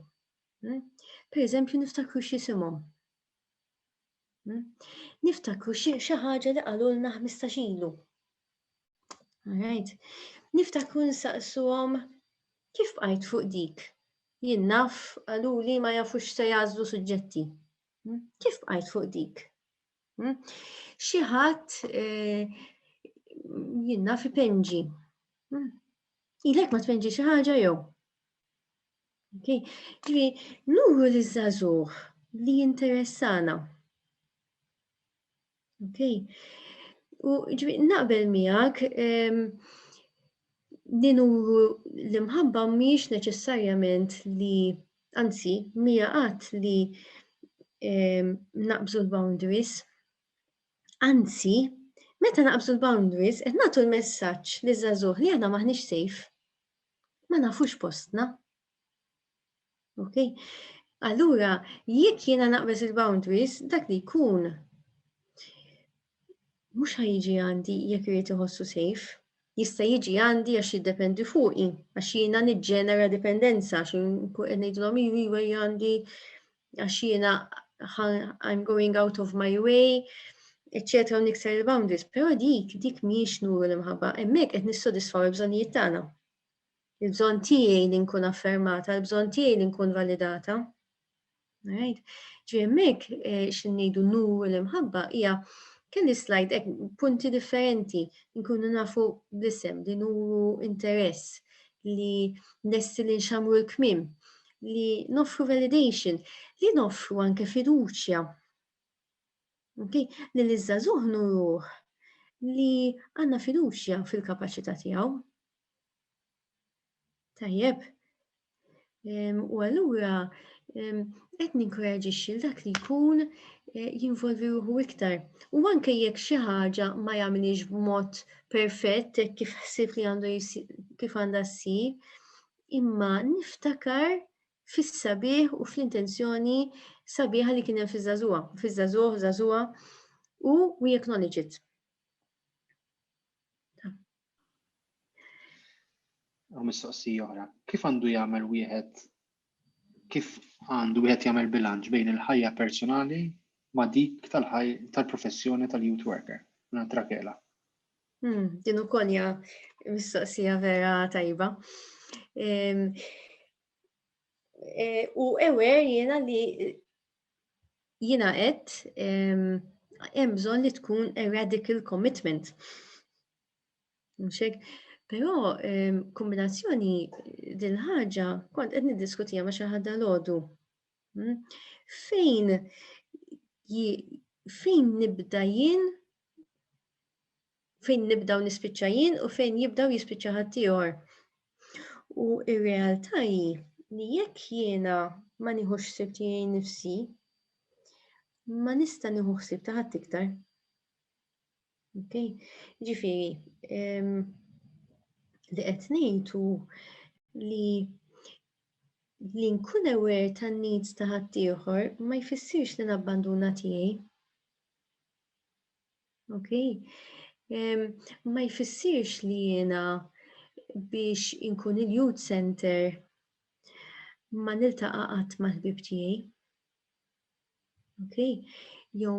Speaker 2: Hmm? Per eżempju, niftakru x'jisimhom. Hmm? Niftakru xi ħaġa li qalulna 15 ilu. Alright. Niftakru nsaqsuhom kif bqajt fuq dik. Jien naf qaluli ma jafux se jażlu suġġetti. Hmm? Kif bqajt fuq dik? Hmm? Xi ħadd eh, jien naf ipenġi. Ilek ma tpenġi xi ħaġa jew? Okay. Ġifieri nuru li żagħżugħ li jinteressana. Okay. U ġifieri naqbel miegħek ehm, li nuru l-imħabba mhijiex neċessarjament li anzi mija qatt li ehm, naqbżu l-boundaries. Anzi, meta naqbżu l-boundaries, qed nagħtu l-messaġġ li żagħżugħ li aħna maħniex safe. Ma nafux postna. Ok? Allura, jekk jiena naqbeż il-boundaries, dak li jkun mhux ħajġi għandi jekk irid iħossu safe. Jista' jiġi għandi għax jiddependi fuqi, għax jiena niġġenera dipendenza, għax ngħidilhom iwa iwa għandi għax jiena I'm going out of my way, eccetera, u nikser il-boundaries, pero dik, dik miex nuru l-imħabba, emmek qed nissodisfaw il-bżonijiet tagħna. Il-bżon tiegħi li nkun affermata, il-bżon tiegħi li nkun validata. Right? Ġi emmek eh, xinnidu nuru l-imħabba hija kelli slide ek punti differenti nkunu nafu blisem li nuru interess li nessi li nxamru l-kmim li noffru validation, li noffru anke fiduċja. Okay? Li l-izzazuħ nuruħ li għanna fiduċja fil-kapacità tiegħu. Tajjeb. U allura qed ninkoraġi xil dak li jkun eh, jinvolvi ruħu iktar. U anke jekk xi ħaġa ma jagħmilx b'mod perfett kif ħsib li għandu kif għandha ssir, imma niftakar fis-sabiħ u fl-intenzjoni sabiħa li kien hemm fiż-żagħżugħa, fiż-żagħżugħ, żagħżugħa u we acknowledge it.
Speaker 1: U mistoqsija oħra, kif għandu jagħmel wieħed kif għandu wieħed jagħmel bilanċ bejn il-ħajja personali ma' dik tal-ħaj tal-professjoni tal-youth worker minn Trakela. Hmm,
Speaker 2: din ukoll hija mistoqsija vera tajba. Ehm, eh, u ewer jiena li jiena qed ehm, hemm bżonn li tkun a radical commitment. Mxek, però ehm, kombinazzjoni din ħaġa kont qed niddiskutija ma' xi ħadda l-għodu. Hmm, fejn fejn nibda jien fejn nibdaw nispiċċa jien u fejn jibdaw jispiċċa ħaddieħor. U ir-realtà hi li jekk jiena ma nieħux sib tiegħi nifsi, ma nista' nieħu ħsib ta' ħadd iktar. Okay? Ġifieri, ehm, li qed ngħidu li li nkun aware tan-needs ta' ħaddieħor ma jfissirx li nabbanduna tiegħi. Ok. Um, ma jfissirx li jiena biex inkun il-youth center ma niltaqa' qatt mal-ħbib tiegħi. Ok? Jew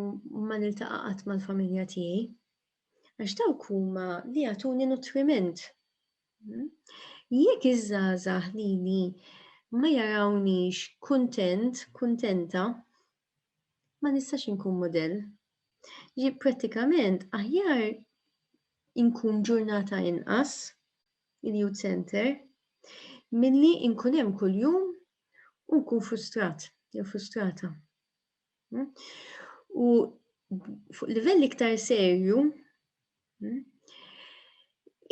Speaker 2: ma niltaqa' qatt mal-familja tiegħi. Għax dawk huma li jagħtuni nutriment. Hmm? Jekk iż-żgħażagħ lili ma jarawniex kuntent, kuntenta, ma nistax inkun modell. Ġi prattikament aħjar inkun ġurnata inqas il-youth center milli inkun hemm kuljum u nkun frustrat jew frustrata. Hmm? U fuq livell iktar serju, hmm,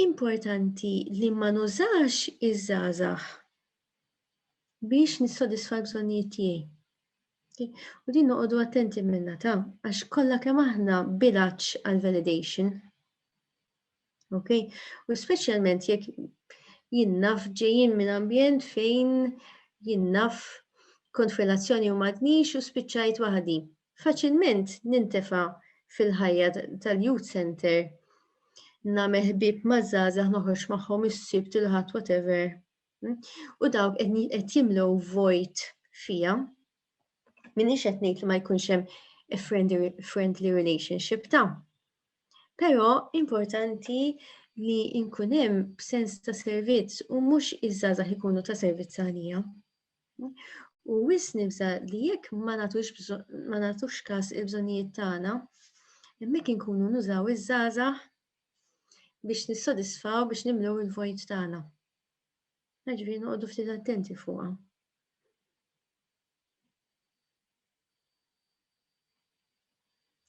Speaker 2: importanti li ma nużax iż-żazax biex nissodisfa l-bżonnijiet tiegħi. U din noqogħdu attenti minna ta' għax kollha kemm aħna bilaċ għal validation. Ok, u speċjalment jekk jinnaf ġejjin minn ambjent fejn jinnaf kont f'relazzjoni u madnix u spiċċajt waħdi. Faċilment nintefa fil-ħajja tal-youth center namel ħbib mażaza noħroġ magħhom is-sibt il-ħadd whatever U dawk qed jimlew vojt fija, minix qed ngħid li ma jkunx hemm friendly relationship ta' Però importanti li nkun hemm b'sens ta' servizz u mhux iż-żgħażagħ ikunu ta' servizz għalija. U wis nibża li jekk ma nagħtux każ il-bżonnijiet tagħna, hemmhekk inkunu nużaw iż-żgħażagħ biex nissodisfaw biex nimlew il-vojt tagħna. Ġifieri noqogħdu ftit attenti fuqha.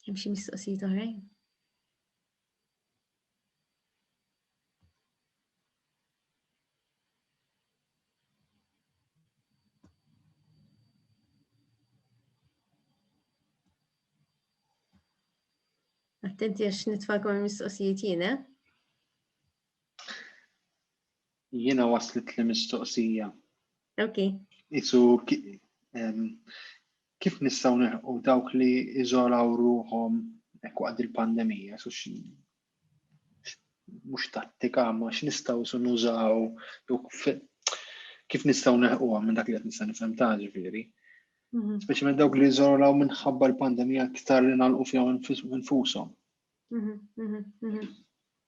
Speaker 2: Hemm xi mistoqsijiet oħrajn? Attenti għax nitfalkom il-mistoqsijiet jiena. Eh?
Speaker 1: Jiena waslet li mistoqsija. Ok.
Speaker 2: Isu
Speaker 1: kif nistgħu neħu dawk li iżolaw ruhom ekku għad il-pandemija, su mux tattika, ma x'nistgħu su nużaw, kif nistgħu neħu minn dak li qed nista' nifhem ta' ġifieri. Mhm. Speċjalment dawk li żolaw minħabba l-pandemija aktar li nagħlqu fihom infushom. Mhm, mhm,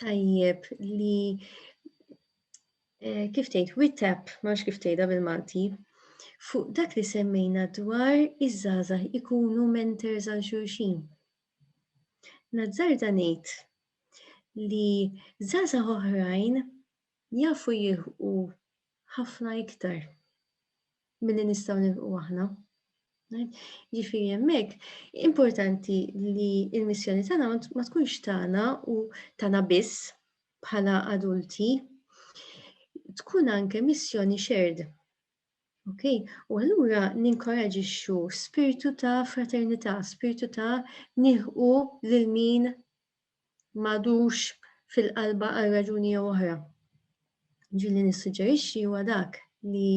Speaker 2: Tajjeb li eh, kif tgħid witap, ma nafx kif tgħidha bil-Malti, fuq dak li semmejna dwar iż-żgħażagħ ikunu mentors għal xulxin. Nazzarda ngħid li żgħażagħ oħrajn jafu jilħqu ħafna iktar. milli nistgħu nilqu aħna. Ġifieri hemmhekk importanti li l-missjoni tagħna ma tkunx tagħna u tagħna biss bħala adulti, tkun anke missjoni shared. Ok, u allura ninkoraġixxu spirtu ta' fraternità, spirtu ta' nieħu lil min m'għadux fil-qalba għal raġuni jew oħra. Ġili nissuġġerixxi huwa dak li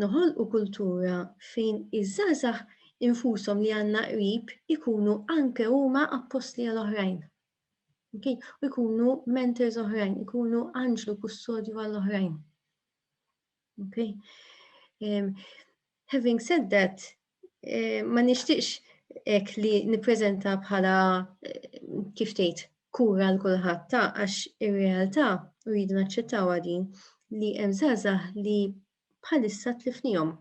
Speaker 2: noħolqu kultura fejn iż-żgħażagħ infushom li għandna qrib ikunu anke huma appostli għal oħrajn. Okay? U ikunu mentors oħrajn, ikunu anġlu kustodju għal oħrajn. Okay? Um, having said that, eh, ma nixtieqx ek li nippreżenta bħala eh, kif tgħid kura l kulħadd ta' għax ir-realtà rridu naċċettaw din li hemm żgħażagħ li bħalissa tlifnihom.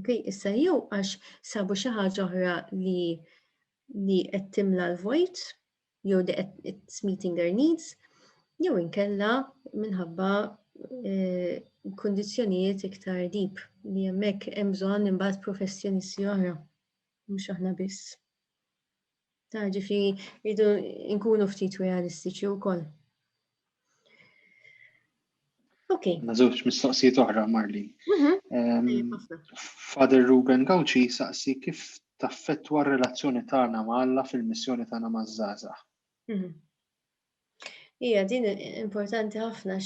Speaker 2: Okay, issa jew għax sabu xi ħaġa oħra li li qed timla l-vojt jew li qed it's meeting their needs, jew inkella minħabba eh, kundizzjonijiet iktar deep li hemmhekk hemm bżonn imbagħad professjonisti oħra, mhux aħna biss. Ta' ġifi rridu nkunu ftit realistiċi wkoll. Ok. Na żewġ mistoqsijiet
Speaker 1: oħra Marli. Mhm. Father Ruben Gauci saqsi kif taffettwa r-relazzjoni tagħna ma' Alla fil-missjoni tagħna ma' Zaza. Mhm.
Speaker 2: Ija, din importanti ħafna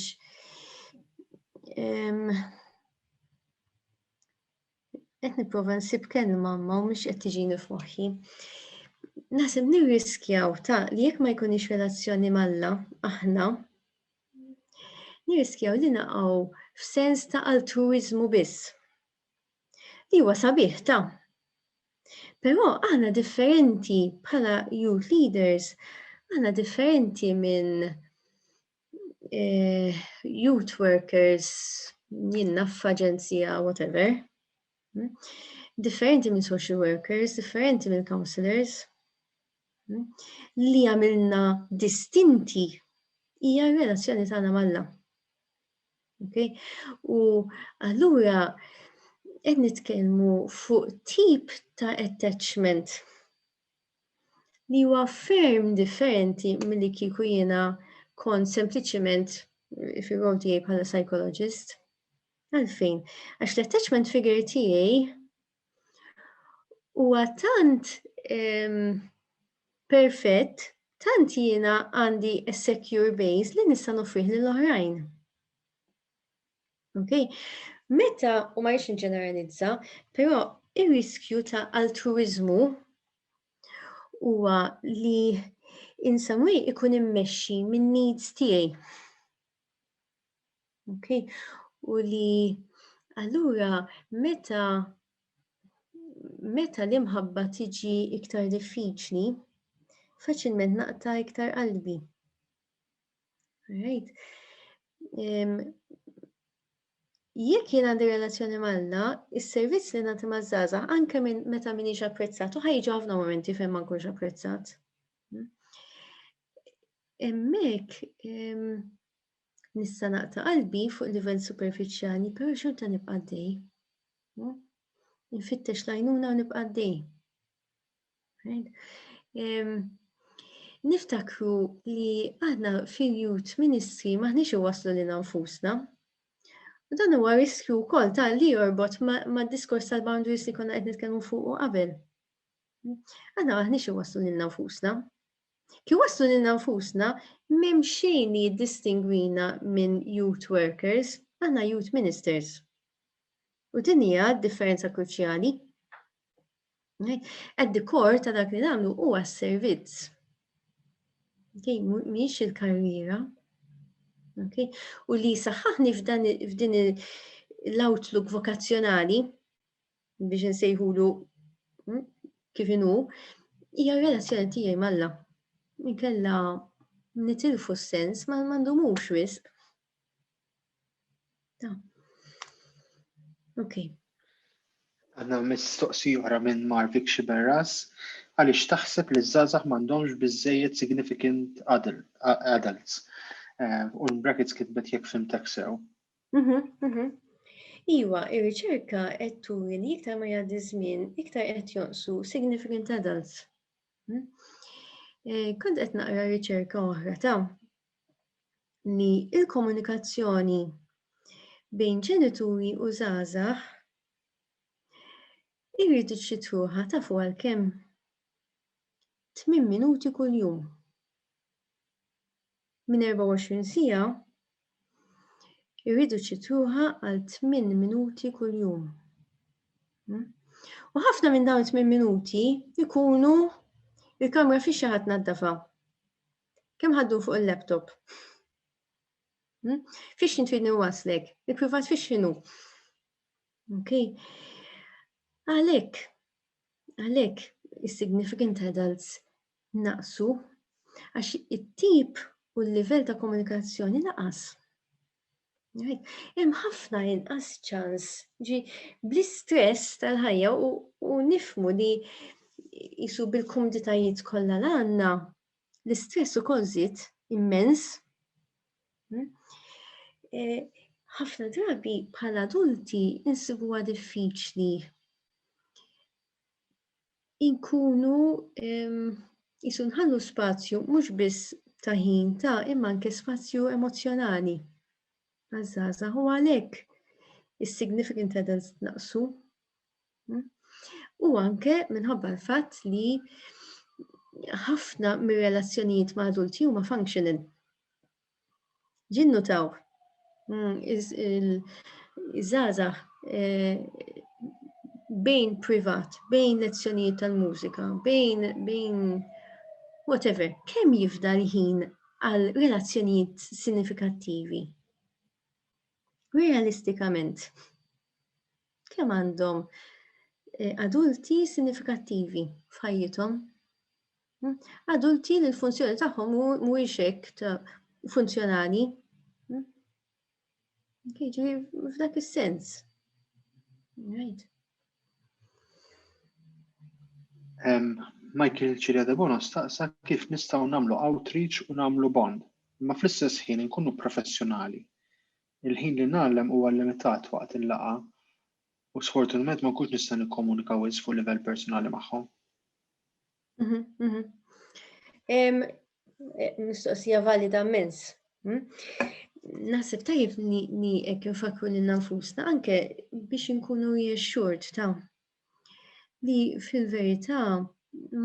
Speaker 2: Qed nipprova nsib kelma ma u mhux qed tiġini f'moħħi. Naħseb nirriskjaw ta' li jekk ma jkunix relazzjoni malla aħna nirriskjaw li naqgħu f'sens ta' altruiżmu biss. Li huwa sabiħ ta' Però aħna differenti bħala youth leaders, aħna differenti minn Eh, youth workers, jien naf aġenzija, whatever. Hmm? Differenti minn social workers, differenti minn counselors. Hmm? Li għamilna distinti hija r-relazzjoni tagħna malla. Okay? U allura qed nitkellmu fuq tip ta' attachment li huwa ferm differenti milli kieku jiena kont sempliċement fir-rol tiegħi bħala psychologist. Għalfejn? Għax l-attachment figure tiegħi huwa tant ehm, perfett, tant jiena għandi a secure base li nista' nofrih lill oħrajn Okay? Meta, u ma jiex ġeneralizza, però ir-riskju ta' altruizmu huwa li in some way ikun immexxi minn needs tiegħi. Okay? U li allura meta meta l-imħabba tiġi iktar diffiċli, faċilment naqta iktar qalbi. Right. Um, jekk jien għandi relazzjoni malla, is-servizz li nagħti maż-żaża anke minn meta minix apprezzat u ħajġu ħafna momenti fejn ma nkunx apprezzat. Hmm? Hemmhekk um, nista' naqta' qalbi fuq livell superfiċjali, però xorta nibqa' dej. Nfittex lajnuna u nibqa' dej. Niftakru li aħna fil-jut ministri maħniex iwaslu li nfusna. U dan huwa riskju wkoll ta' li jorbot ma' diskors tal-boundaries li konna qed nitkellmu fuq u qabel. Aħna maħniex iwaslu li nfusna. Ki waslu li nfusna m'hemm xejn li jiddistingwina minn youth workers, aħna youth ministers. U din hija differenza kruċjali. At the core ta' dak li nagħmlu huwa s-servizz. Okay, mhix il-karriera. Okay? U li saħħaħni f'din l-outlook vokazzjonali biex nsejħulu hm, kif inhu, hija relazzjoni tiegħi malla. Inkella nitilfu s-sens ma mandumux wisq. Ok.
Speaker 1: Għanna mistoqsi oħra minn Marvik Xiberras, għaliex taħseb li żgħażagħ m'għandhomx biżejjed significant adults. Eh, un brackets kitbet jekk fimtek sew. Mhm, mhm.
Speaker 2: Iwa, ir-riċerka qed turi li iktar ma jgħaddi żmien, iktar qed jonqsu significant adults. Hmm? Eh, kont qed naqra riċerka oħra ta' li l-komunikazzjoni bejn ġenituri u żgħażagħ irrid iġġid ruħha tafu għalkemm tmien minuti kuljum. Minn 24 siegħa irridu ġġid ruħha għal tmien minuti kuljum. Hmm? U ħafna minn dawn tmien minuti ikunu il-kamra fi xi ħadd naddafa. Kemm ħaddu fuq il-laptop? Hmm? Fiex nitfidni waslek? Il-privat fiex xinu? Ok. Għalek, għalek, il-significant adults naqsu, għax it-tip u l-level ta' komunikazzjoni naqas. Hemm ħafna inqas ċans ġi bl-istress tal-ħajja u nifmu li jisu bil-kumditajiet kollha l-għanna L-istress ukoll żied immens. Hmm? E, ħafna drabi bħala adulti insibuha diffiċli inkunu jisun ħallu spazju mhux biss ta' ħin ta' imma anke spazju emozjonali. Għazzaza, u għalhekk is-significant adults naqsu U anke minħabba l-fatt li ħafna mir-relazzjonijiet ma' adulti huma functional. Ġinnu taw, mm, iż-żaza eh, bejn privat, bejn lezzjonijiet tal-mużika, bejn, bejn, whatever, kemm jifda l-ħin għal relazzjonijiet sinifikattivi? Realistikament, Kemm għandhom eh, adulti sinifikattivi f'ħajjithom? Hmm? Adulti li l-funzjoni tagħhom mhuwiex hekk ta' funzjonali. Hmm? Jiġri f'dak is-sens. Right. Um,
Speaker 1: Michael Ciria de Bono staqsa kif nistgħu nagħmlu outreach u nagħmlu bond, imma fl-istess ħin inkunu professjonali Il-ħin li ngħallem huwa limitat waqt il-laqgħa u sfortunament ma nkunx nista' nikkomunika wisq fuq livell personali magħhom.
Speaker 2: Mistoqsija valida mens. Hm? Naħseb tajjeb li hekk infakru lil nfusna anke biex inkunu reassured ta' li fil-verità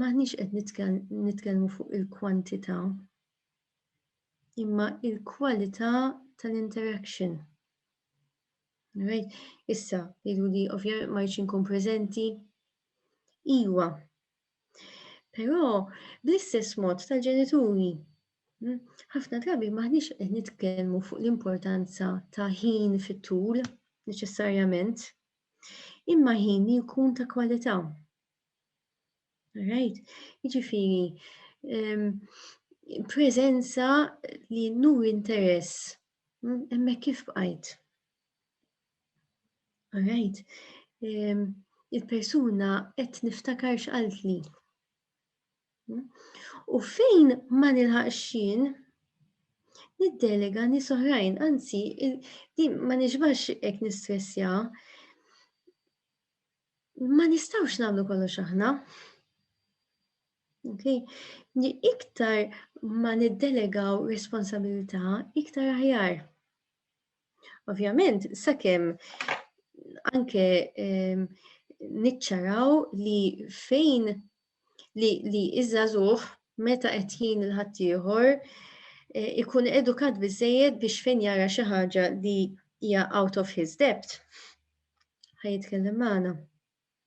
Speaker 2: maħniex qed nitkellmu fuq il-kwantità imma il-kwalità tal-interaction. Right? Issa, jidu li ovvjament ma jċin kun prezenti. Iwa. Però, bl-istess mod tal-ġenituri, hm, ħafna drabi maħniex qed nitkellmu fuq l-importanza ta' ħin fit-tul, neċessarjament, imma ħin li jkun ta' kwalità. Right? Jiġifieri, ehm, preżenza li nur interess. Hmm, hemmhekk kif bqajt? Alright. Ehm, il-persuna qed niftakar x'qaltli. Hmm? U fejn ma nilħaqxin, niddelega nis oħrajn, anzi, din ma nixbax hekk nistressja. Ma nistgħux nagħmlu kollox aħna. Okay. Iktar ma niddelegaw responsabilità, iktar aħjar. Ovvjament, sakemm anke ehm, niċċaraw li fejn li li iż-żagħżugħ meta qed jgħin il ħaddieħor eh, ikun edukat biżejjed biex fejn jara xi ħaġa li hija out of his depth. Ħajitkellem magħna.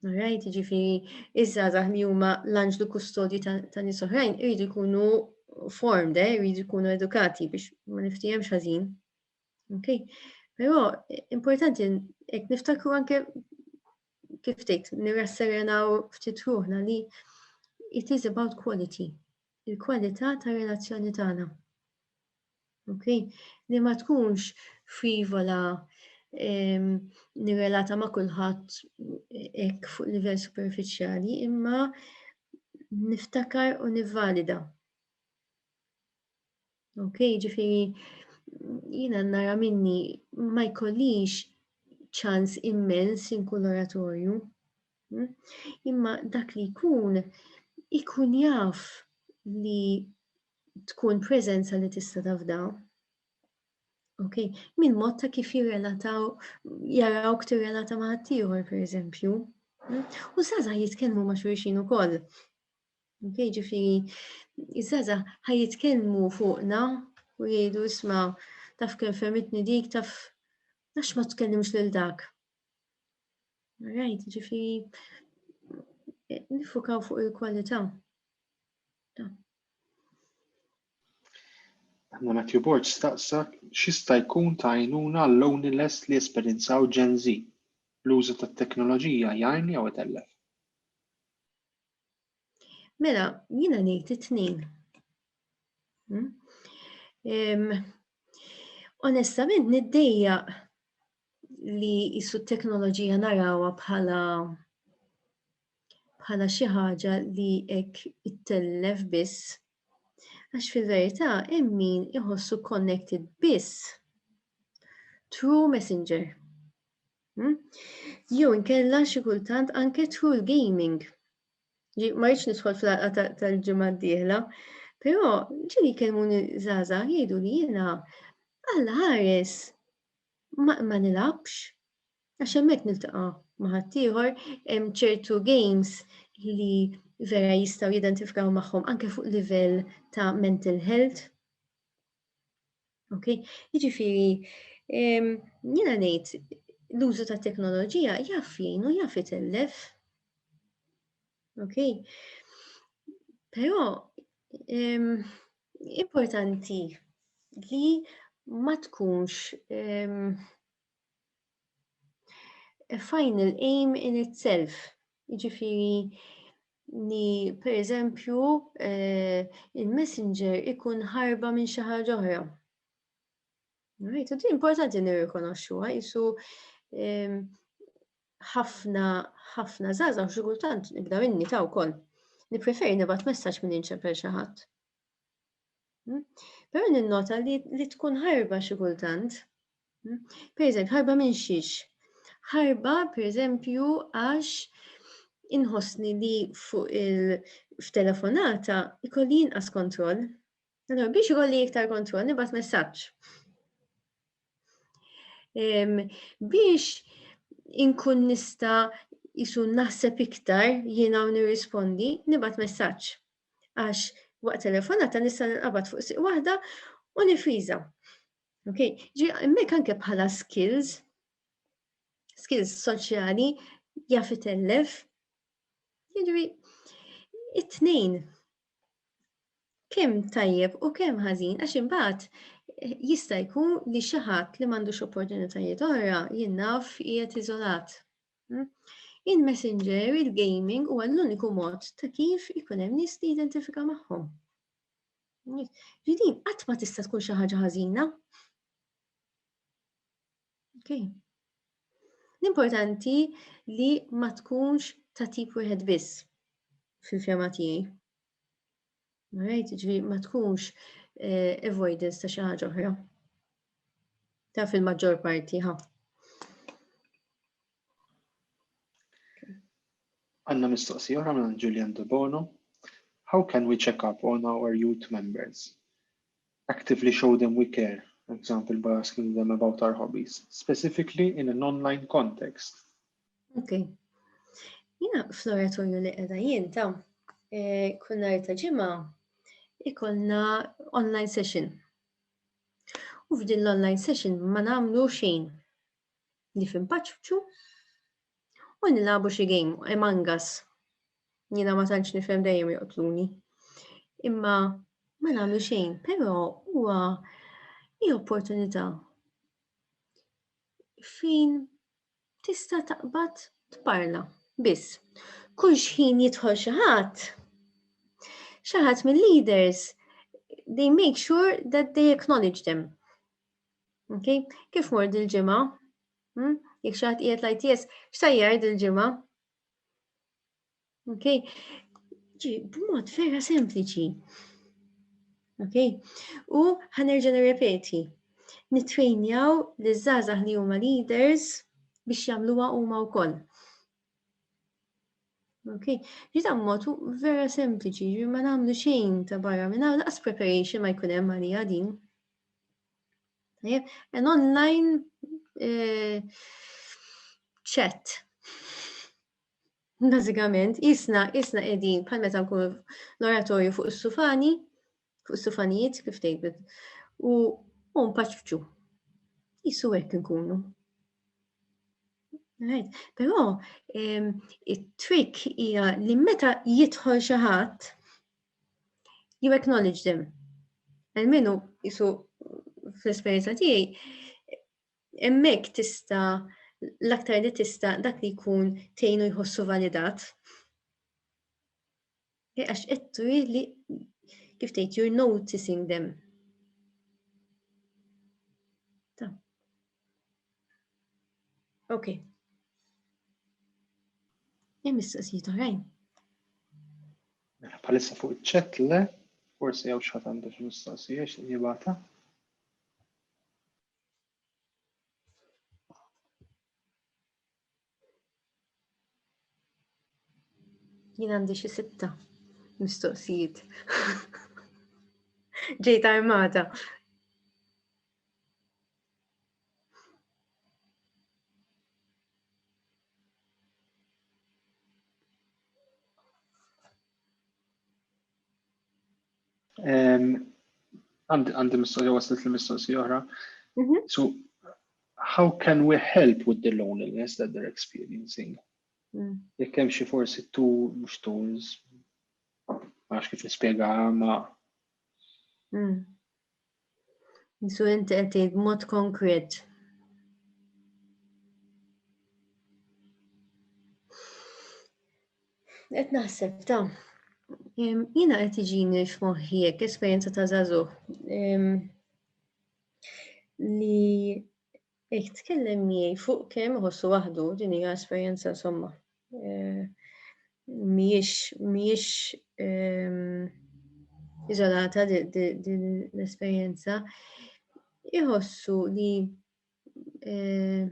Speaker 2: Alright, ġifiri, iż-żgħażagħ li huma l-anġlu kustodju ta' nies oħrajn iridu jkunu formed, eh, iridu jkunu edukati biex ma niftihemx ħażin. Okay. Però importanti jekk niftakru anke kif tgħid, nirrasserenaw ftit ruħna li it is about quality, il-kwalità ta' relazzjoni tagħna. Ok? Li ma tkunx frivola ehm, nirrelata ma' kulħadd hekk fuq livell superfiċjali, imma niftakar u nivvalida. Ok, ġifiri, jina nara minni ma jkollix ċans immens inkun oratorju. Hmm? Imma dak li jkun, ikun jaf li tkun prezenza li tista tafda. Ok, minn mod ta' kif jirrelataw, jaraw kti relata ma' ħaddieħor, per eżempju. Hmm? U zaza jitkellmu ma' xulxin ukoll. Ok, ġifiri, iż-żaza ħajitkellmu fuqna u jgħidu isma taf kien femitni dik taf għax ma tkellimx lil dak. Right, ġifiri, nifukaw fuq il-kwalità. Aħna
Speaker 1: Matthew Borg staqsa x'jista' jkun ta' għajnuna l-loneliness li esperjenzaw Gen Z. L-użu tat-teknoloġija jgħin jew itellef?
Speaker 2: Mela, jina nejt it-tnin. Hmm? Onestament, niddejja li jissu teknoloġija narawa bħala bħala xi ħaġa li hekk ittellef biss. Għax fil-verità hemm min iħossu connected biss through messenger. Hmm? Jew inkella xi kultant anke true gaming. Ma rridx nidħol fl-għalqa tal-ġimgħa d-dieħla, però ġieli kelmuni żaża jgħidu li jiena għal ħares ma nilabx għax hemmhekk niltaqa' ma' ħaddieħor hemm ċertu games li vera jistgħu jidentifikaw magħhom anke fuq livell ta' mental health. Ok, jiġifieri jiena ngħid l-użu ta' teknoloġija jaf jgħin u jaf itellef. Ok, però importanti li ma tkunx A final aim in itself, jiġifieri li pereżempju eh, il-messenger ikun ħarba minn xi ħaġa oħra. Right, u din importanti nirrikonoxxuha jisu ehm, ħafna ħafna żgħażagħ xi kultant nibda minni ta' wkoll. Nippreferi nibgħat messaġġ minn inċepel xi ħadd. Hmm? Però ninnota li, li tkun ħarba xi kultant. Hmm? Per eżempju, ħarba minn xiex. Ħarba, per eżempju, għax inħossni li fuq il-telefonata ikolli jinqas kontroll. Allora, biex ikolli iktar kontroll, nibgħat messaġġ. Biex inkun nista jisu naħseb iktar jiena u nirrispondi, nibgħat messaġġ. Għax waqt telefonata nista' ninqabad fuq siq waħda u nifiża. Ok, ġi hemmhekk anke bħala skills, skills soċjali jaf itellef. Jiġri it-tnejn kemm tajjeb u kemm ħażin għax imbagħad jista' jkun li xi ħadd li m'għandux opportunitajiet oħra jinnaf qiegħed iżolat In Messenger, il-gaming huwa l-uniku mod ta' kif ikun hemm nies li identifika magħhom. Ġidin, qatt ma tista' tkun xi ħaġa ħażina. Okay. L-importanti li ma tkunx ta' tip wieħed biss fil-fema tiegħi. Right, ġvi, ma tkunx eh, avoidance ta' xi ħaġa oħra. Ta' fil-maġġor parti, ha.
Speaker 1: Għanna mistoqsi oħra minn Julian De Bono. How can we check up on our youth members? actively show them we care, for example, by asking them about our hobbies, specifically in an online context. Ok.
Speaker 2: Jina fl-oratorju li edha jien ta' eh, kunna ta' ġimma ikolna online session. U f'din l-online session ma namlu xejn. li fin paċċu u nilabu xi game Among Us. Jiena ma tantx nifhem dejjem joqtluni. Imma ma nagħmlu xejn, però huwa hi opportunità fejn tista' taqbad tparla biss. Kull xħin jidħol xi ħadd, xi ħadd mill-leaders they make sure that they acknowledge them. Ok, kif mor dil-ġimgħa? Hmm? Jekk xi ħadd qiegħed l-ITS, x'tajjar dil-ġimgħa? Ok, b'mod vera sempliċi. Ok, u ħanerġa' nirrepeti. Nittrejnjaw li żgħażagħ li huma leaders biex jagħmluha huma wkoll. Ok, ġi ta' mod vera sempliċi, ġi ma nagħmlu xejn ta' barra minn hawn laqas preparation ma jkun hemm għalija din. Tajjeb, an online eh, chat. Bażikament, isna isna qegħdin bħal meta nkunu l-oratorju fuq is-sufani, fuq is-sufanijiet kif tgħid, u u mpaċċu. Isu hekk nkunu. Right. Però it-trick hija li meta jidħol xi ħadd, You acknowledge them. Għalmenu, jisu fl-esperienza tiegħi, emmek tista l-aktar li tista dak li jkun tejnu jħossu validat. E, għax ettu li kif tgħid you're noticing them. Ok. Hemm mistoqsijiet oħrajn. Mela,
Speaker 1: bħalissa fuq iċ-ċet le, forsi jew x'ħadd għandu xi mistoqsija x'tieq jibgħatha.
Speaker 2: Jien għandi xi sitta mistoqsijiet. Ġejt armata.
Speaker 1: Għandi mistoqsija waslet li mistoqsija oħra. Mhm. So, how can we help with the loneliness that they're experiencing? Mm. Jekk hemm xi forsi tu mhux tools, ma kif nispjega ma. Mm.
Speaker 2: Jisu inti qed tgħid mod konkret. Qed naħseb ta' jiena qed iġini f'moħħi hekk esperjenza ta' żagħżugħ li Jekk tkellem miegħi fuq kemm iħossu waħdu, din hija esperjenza insomma. Eh, mhijiex mhijiex ehm, iżolata din l-esperjenza. Iħossu li eh,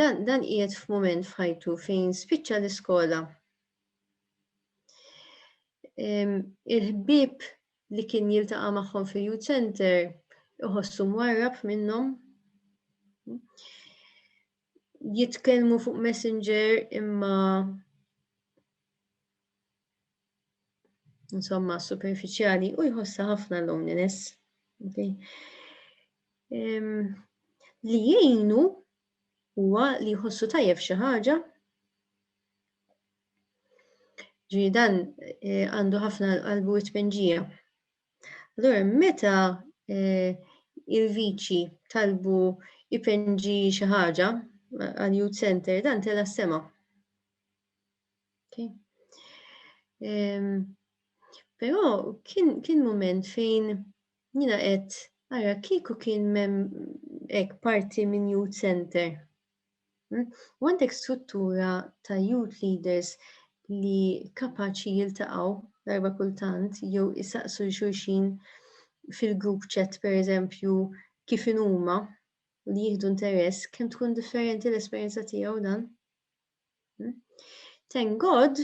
Speaker 2: dan dan qiegħed f'mument f'ħajtu fejn spiċċa l-iskola. Ehm, il-ħbieb li kien jiltaqa' magħhom fil-youth center iħossu mwarrab minnhom. Jitkellmu fuq Messenger imma insomma superfiċjali u jħossha ħafna loneliness. Okay. Um, li jgħinu huwa li jħossu tajjeb xi ħaġa Ġi dan eh, għandu ħafna qalbu it-tpenġija. Allora, meta eh, il-viċi talbu ipenġi xi ħaġa għal Youth Center, dan tela s-sema. Okay. Um, Però kien, kien moment fejn jina qed ara kieku kien mem ek parti minn Youth Center U għandek struttura ta' youth leaders li kapaċi jiltaqgħu darba kultant jew isaqsu li xulxin fil-group chat per eżempju kif inuma li jieħdu interess, kemm tkun differenti l-esperjenza tiegħu dan? Hmm? Thank God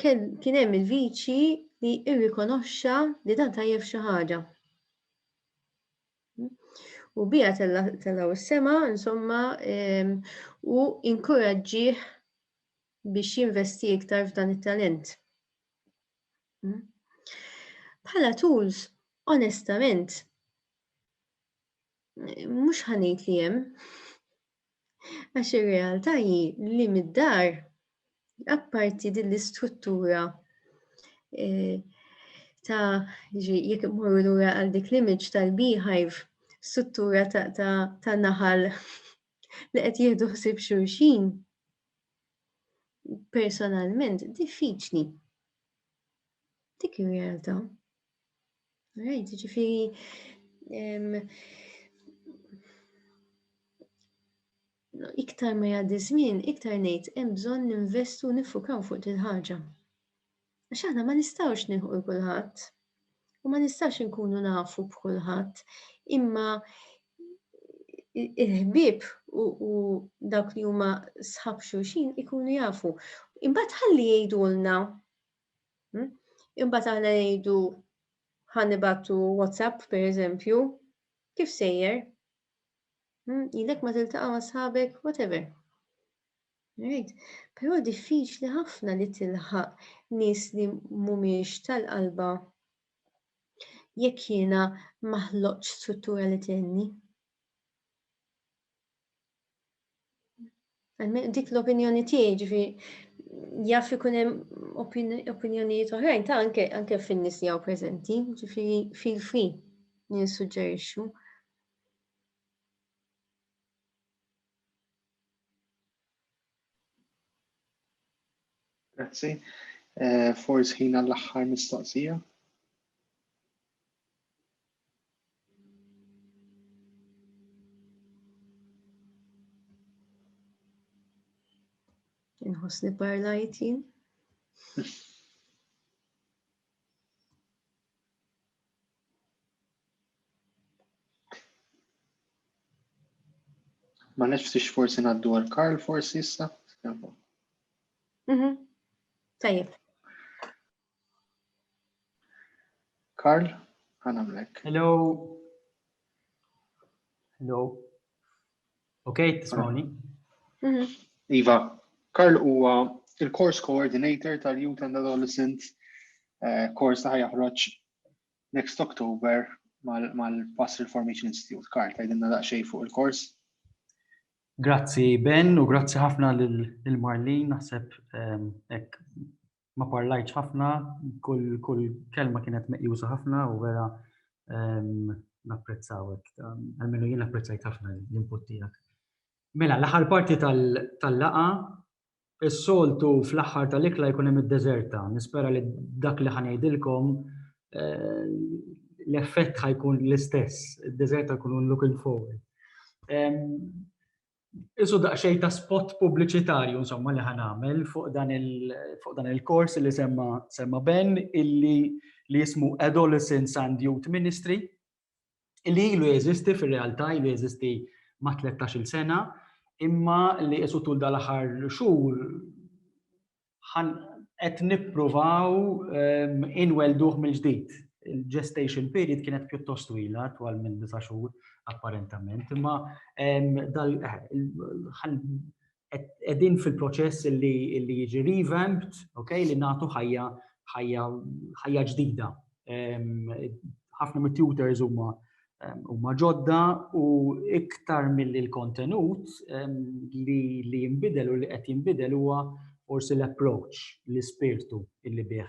Speaker 2: kien hemm il-viċi li irrikonoxxa li dan tajjeb xi ħaġa. U bija telaw is-sema, insomma, u inkuraġġih biex jinvesti iktar f'dan it-talent. Hmm? Bħala tools, onestament, mhux ħanejt li hemm, Għax ir-realtà hi li mid-dar, apparti din l-istruttura eh, ta' jekk morru lura għal dik l-image tal-beehive, struttura ta' naħal li qed jieħdu ħsieb xulxin. Personalment, diffiċli. Dik ir-realtà. Right, ġifiri, um, iktar ma jgħaddi żmien, iktar ngħid hemm bżonn ninvestu nifukaw fuq din ħaġa. Għax aħna ma nistgħux nieħu kulħadd u ma nistax inkunu nafu b'kulħadd, imma il-ħbib u dawk li huma sħab xulxin ikunu jafu. Imbagħad ħalli jgħidulna Hmm? Imbagħad aħna ngħidu ħanibatu WhatsApp per eżempju, kif sejjer? Hmm? Ilek ma tiltaqa' ma' sħabek, whatever. Right. Però diffiċli ħafna li tilħaq nies li mhumiex tal-qalba jekk jiena maħloqx struttura li tenni. Dik l-opinjoni tiegħi ġifi jaf ikun hemm opinjonijiet oħrajn ta' anke anke fin-nies li hawn preżenti, ġifi feel free li nissuġġerixxu.
Speaker 1: Grazzi. Eh, Forsi ħin għall-aħħar mistoqsija.
Speaker 2: Inħossni parlajt jien.
Speaker 1: Ma nafx tix forsi naddu għal Karl forsi issa. Mhm.
Speaker 2: Tajjeb.
Speaker 1: Karl, ħanamlek. Hello.
Speaker 3: Hello. Ok, tismawni. Mhm.
Speaker 1: Iva, Karl huwa il-course coordinator tal-Youth and Adolescent eh, course ta' ħajħroċ next October mal-Pass Reformation Institute. Karl, tgħidilna daqsxejn fuq il-kors?
Speaker 3: Grazzi Ben u grazzi ħafna lil Marlin, naħseb ehm, hekk ma parlajtx ħafna, kull kelma kienet meqjusa ħafna u vera ehm, napprezzawek. Ehm, Għalmenu jien napprezzajt ħafna l-input tiegħek. Mela, l-aħħar parti tal-laqa Is-soltu fl-aħħar tal-ikla jkun hemm id-deżerta. Nispera li dak li ħanejdilkom l-effett ħajkun l-istess, id-deżerta jkunu looking forward. Isu daqsxejn ta' spot pubbliċitarju insomma li ħanagħmel fuq dan il-kors li semma Ben illi li jismu Adolescence and Youth Ministry li ilu jeżisti fir-realtà, ilu jeżisti ma' 13-il sena, imma li qisu tul dal-aħħar xhur qed nippruvaw ehm, inwelduh mill-ġdid. Il-gestation period kienet pjuttost twila twal minn disa' xhur apparentament, imma ehm, eh, qegħdin fil-proċess li jiġi revamped, okay, li nagħtu ħajja ħajja ħajja ġdida. Ħafna mit-tutors huma huma ġodda u iktar milli l-kontenut li li jinbidel u li qed jinbidel huwa forsi l-approach, l-ispirtu illi bih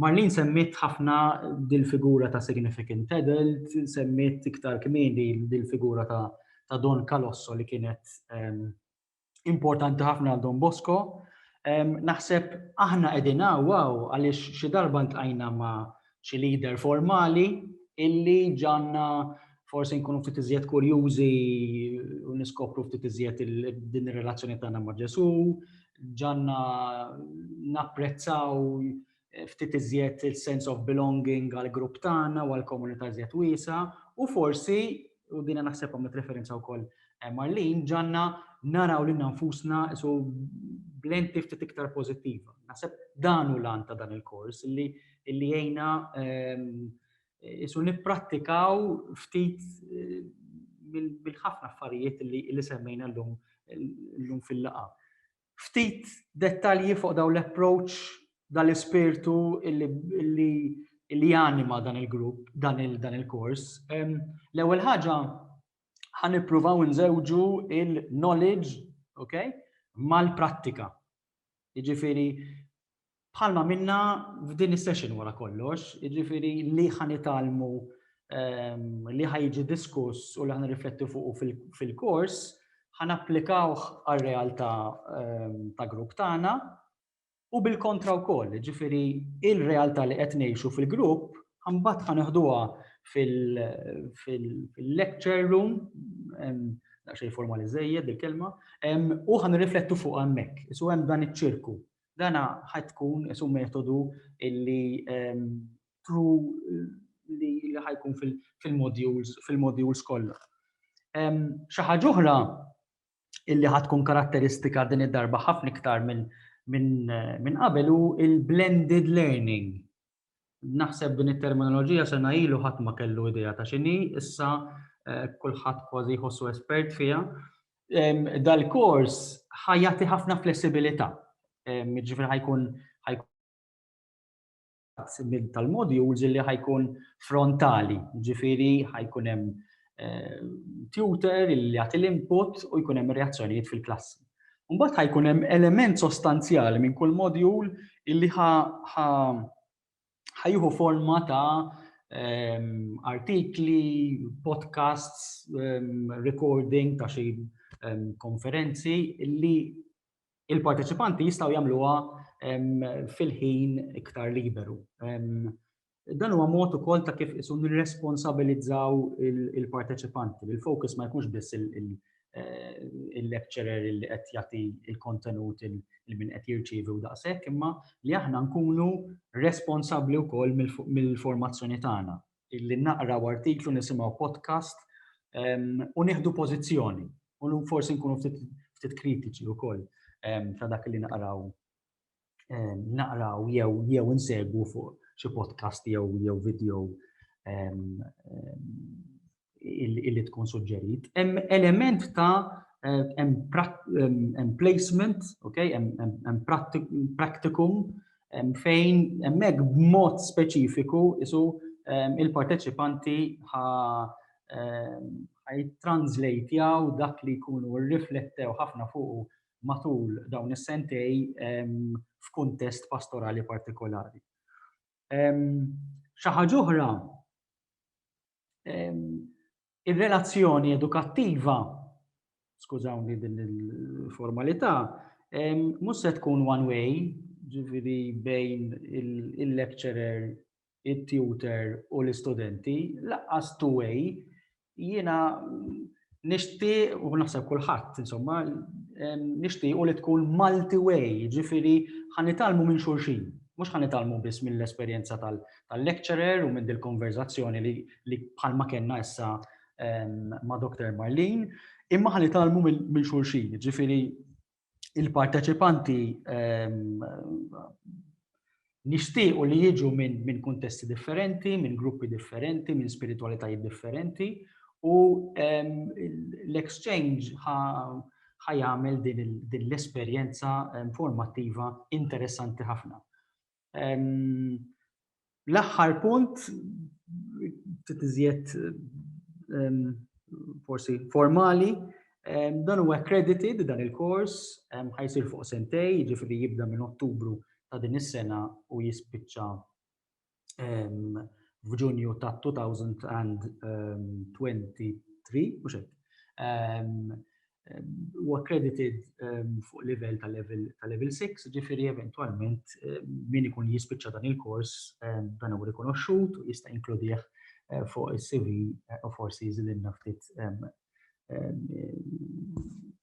Speaker 3: Marlene semmiet ħafna dil-figura ta' significant adult, semmiet iktar kmieni dil-figura ta' Don Kalosso li kienet importanti ħafna għal Don Bosco. Naħseb aħna qegħdin hawn hawn għaliex xi darba ltqajna ma' xi leader formali illi ġanna forsi nkunu ftit iżjed kurjużi u niskopru ftit iżjed din ir-relazzjoni tagħna ma' Ġesu, ġanna napprezzaw ftit iżjed il-sense of belonging għal grupp tagħna u għal komunità iżjed wiesa u forsi u dina naħseb għamlet referenza wkoll eh, Marlin ġanna naraw li nfusna isu blenti ftit iktar pożittiva. Naħseb dan u lan ta' dan il-kors li li jgħina ehm, isu nipprattikaw ftit eh, mill-ħafna affarijiet li semmejna llum llum fil-laqa. Ftit dettalji fuq daw l-approach dal-ispirtu li anima dan il-grupp, dan il-kors. L-ewwel ħaġa ħan ippruvaw nżewġu il-knowledge, okay, mal-prattika. Jiġifieri bħal ma minna f'din is-session wara kollox, jiġifieri li ħa nitgħallmu li ħa jiġi diskuss u li ħa nirriflettu fuqu fil-kors, ħa napplikawh għar-realtà ta' grupp tagħna u bil-kontra wkoll, jiġifieri il-realtà li qed ngħixu fil-grupp ħa mbagħad ħa neħduha fil-lecture room, daqsxejn formali żejjed il-kelma, u ħa nirriflettu fuqha hemmhekk. Isu hemm dan iċ-ċirku Dana ħad tkun isu metodu illi tru li ħajkun fil-modules fil-modules kollha. Xi ħaġa oħra illi ħad tkun karatteristika din id-darba ħafna iktar minn qabel hu il-blended learning. Naħseb din it-terminoloġija sena ilu ħadd ma kellu idea ta' x'inhi, issa kulħadd kważi jħossu espert fiha. Dal-kors ħa jagħti ħafna flessibilità. Jiġifieri ħajkun tal-modules li ħajkun frontali, jiġifieri ħajkun hemm tutor li jagħti l-input u jkun hemm reazzjonijiet fil-klassi. Mbagħad ħajkun hemm element sostanzjali minn kull modjul illi ħajħu forma ta' ehm, artikli, podcasts, ehm, recording ta' xi ehm, konferenzi illi il-parteċipanti jistgħu jagħmluha fil-ħin iktar liberu. Dan huwa mod ukoll ta' kif isu nirresponsabilizzaw il-parteċipanti. Il-fokus ma jkunx biss il-lecturer eh, li qed jagħti il-kontenut il-min qed jirċievi u daqshekk, imma li aħna nkunu responsabbli wkoll mill-formazzjoni tagħna. Li naqraw artiklu, nisimgħu podcast ehm, u nieħdu pożizzjoni. U forsi nkunu ftit kritiċi wkoll ehm, ta' dak li naqraw naqraw jew jew insegwu fuq xi podcast jew jew video illi tkun suġġerit. Hemm element ta' hemm placement, okay, hemm practicum fejn hemmhekk b'mod speċifiku isu il-parteċipanti ħa jittranslatjaw dak li jkunu rriflettew ħafna fuq matul dawn is-sentej f'kuntest pastorali partikolari. Xi ħaġa oħra, ir-relazzjoni edukattiva, skużawni din il-formalità, mhux se tkun one way, ġifieri bejn il-lecturer it-tutor u l-istudenti, laqqas two way, jiena nixtieq u naħseb kulħadd, insomma, nixtieq u li tkun multi way, ġifieri ħanitalmu minn xulxin. Mhux ħanitalmu biss mill-esperjenza tal-lecturer u minn dil-konverzazzjoni li bħalma kellna issa ma' Dr. Marlin, imma ħanitalmu minn xulxin, ġifieri il-parteċipanti nixtiequ li jiġu minn min kuntesti differenti, minn gruppi differenti, minn spiritualitajiet differenti u l-exchange ħajamel din l-esperjenza formattiva interessanti ħafna. L-aħħar punt, ftit iżjed forsi formali, dan huwa accredited dan il-kors, ħajsir fuq sentej, jiġifieri jibda minn Ottubru ta' din is-sena u jispiċċa f'Ġunju ta' 2023, mhux hekk. u accredited fuq livell ta' level 6, ġifieri eventwalment min ikun jispiċċa dan il-kors dan huwa rikonoxxut u jista' jinkludih fuq is-CV u forsi jżidilna ftit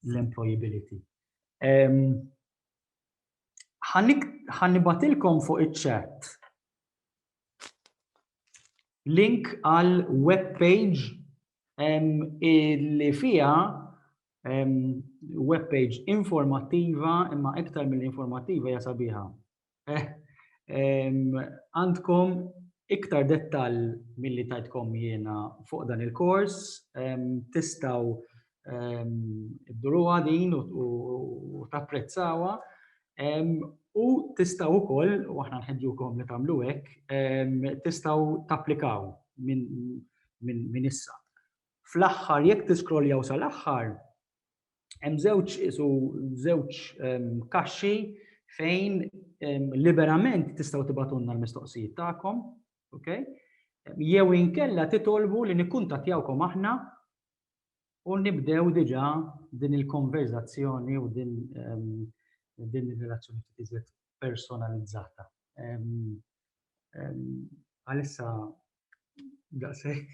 Speaker 3: l-employability. Ħa nibgħatilkom fuq iċ-chat link għal web page li fiha web page informattiva imma iktar mill-informattiva hija sabiħa. Għandkom iktar dettal milli tajtkom jiena fuq dan il-kors, tistaw id-duruwa din u tapprezzawa, u tistaw u koll, u għahna nħedġukom li tamlu ek, tistaw taplikaw minn minn issa. Fl-aħħar jekk tiskrolljaw sal-aħħar, hemm żewġ isu żewġ ehm, kaxxi fejn ehm, liberament tistgħu tibatunna l-mistoqsijiet tagħkom, okay? Jew inkella titolbu li nikkuntattjawkom aħna u nibdew diġà din il-konverzazzjoni u din ehm, din il-relazzjoni ftit personalizzata. Għalissa Daqshekk.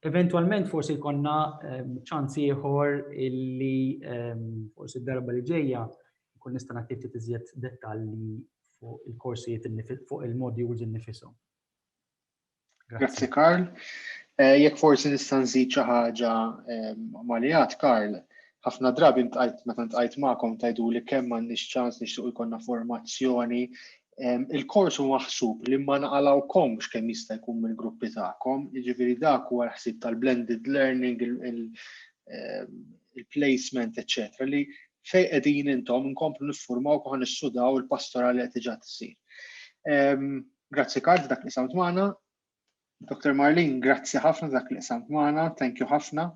Speaker 3: Eventwalment forsi jkollna ċans ieħor illi forsi d-darba li ġejja nkun nista' nagħti ftit iżjed dettalji fuq il-korsijiet fuq il-modules innifishom.
Speaker 1: Grazzi Karl. Eh, jekk forsi nista' nżid xi ħaġa ehm, malijat, Karl, ħafna drabi ntqajt meta ntqajt magħkom tajdu li kemm m'għandniex ċans nixtieq jkollna formazzjoni Il-kors hu maħsub li ma naqalgħukomx kemm jista' jkun mill-gruppi tagħkom, jiġifieri dak huwa l-ħsieb tal-blended learning, il-placement, eċċetera, li fejn qegħdin intom inkomplu niffurmawk u ħa nissudaw il-pastoral li qed diġà tisir. Grazzi Karl dak li samt magħna. Dr. Marlin, grazzi ħafna dak li samt magħna, thank you ħafna.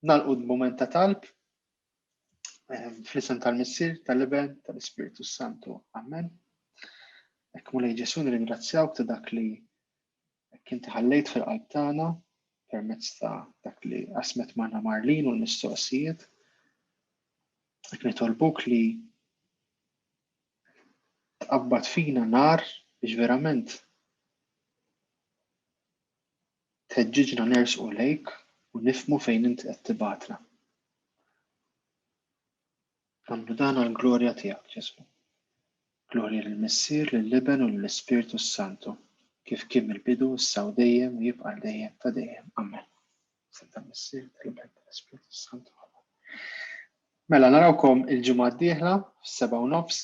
Speaker 1: Nagħlqu d-mument ta' talb ehm, fl-isem tal-Missier, tal-Iben, tal-Ispirtu Santu. Amen. Ek Mulej Ġesu nirringrazzjawk ta' dak li kien tiħallejt fil-qalb tagħna permezz ta' dak li qasmet magħna Marlin u l-mistoqsijiet. Ek nitolbuk li tqabbad fina nar biex verament Tħeġġiġna nersqu lejk u nifhmu fejn int qed tibgħatna. Nagħmlu dan għall-glorja tiegħek, Ġesù. Glorja lill-Missier, lill-Iben u lill-Ispirtu s-Santu, kif kien mill-bidu, issa u dejjem u jibqa' għal dejjem ta' dejjem. Amen. Sem tal-Missier, tal-Iben, tal-Ispirtu s-Santu. Mela narawkom il-ġimgħa d-dieħla fis-7 u nofs.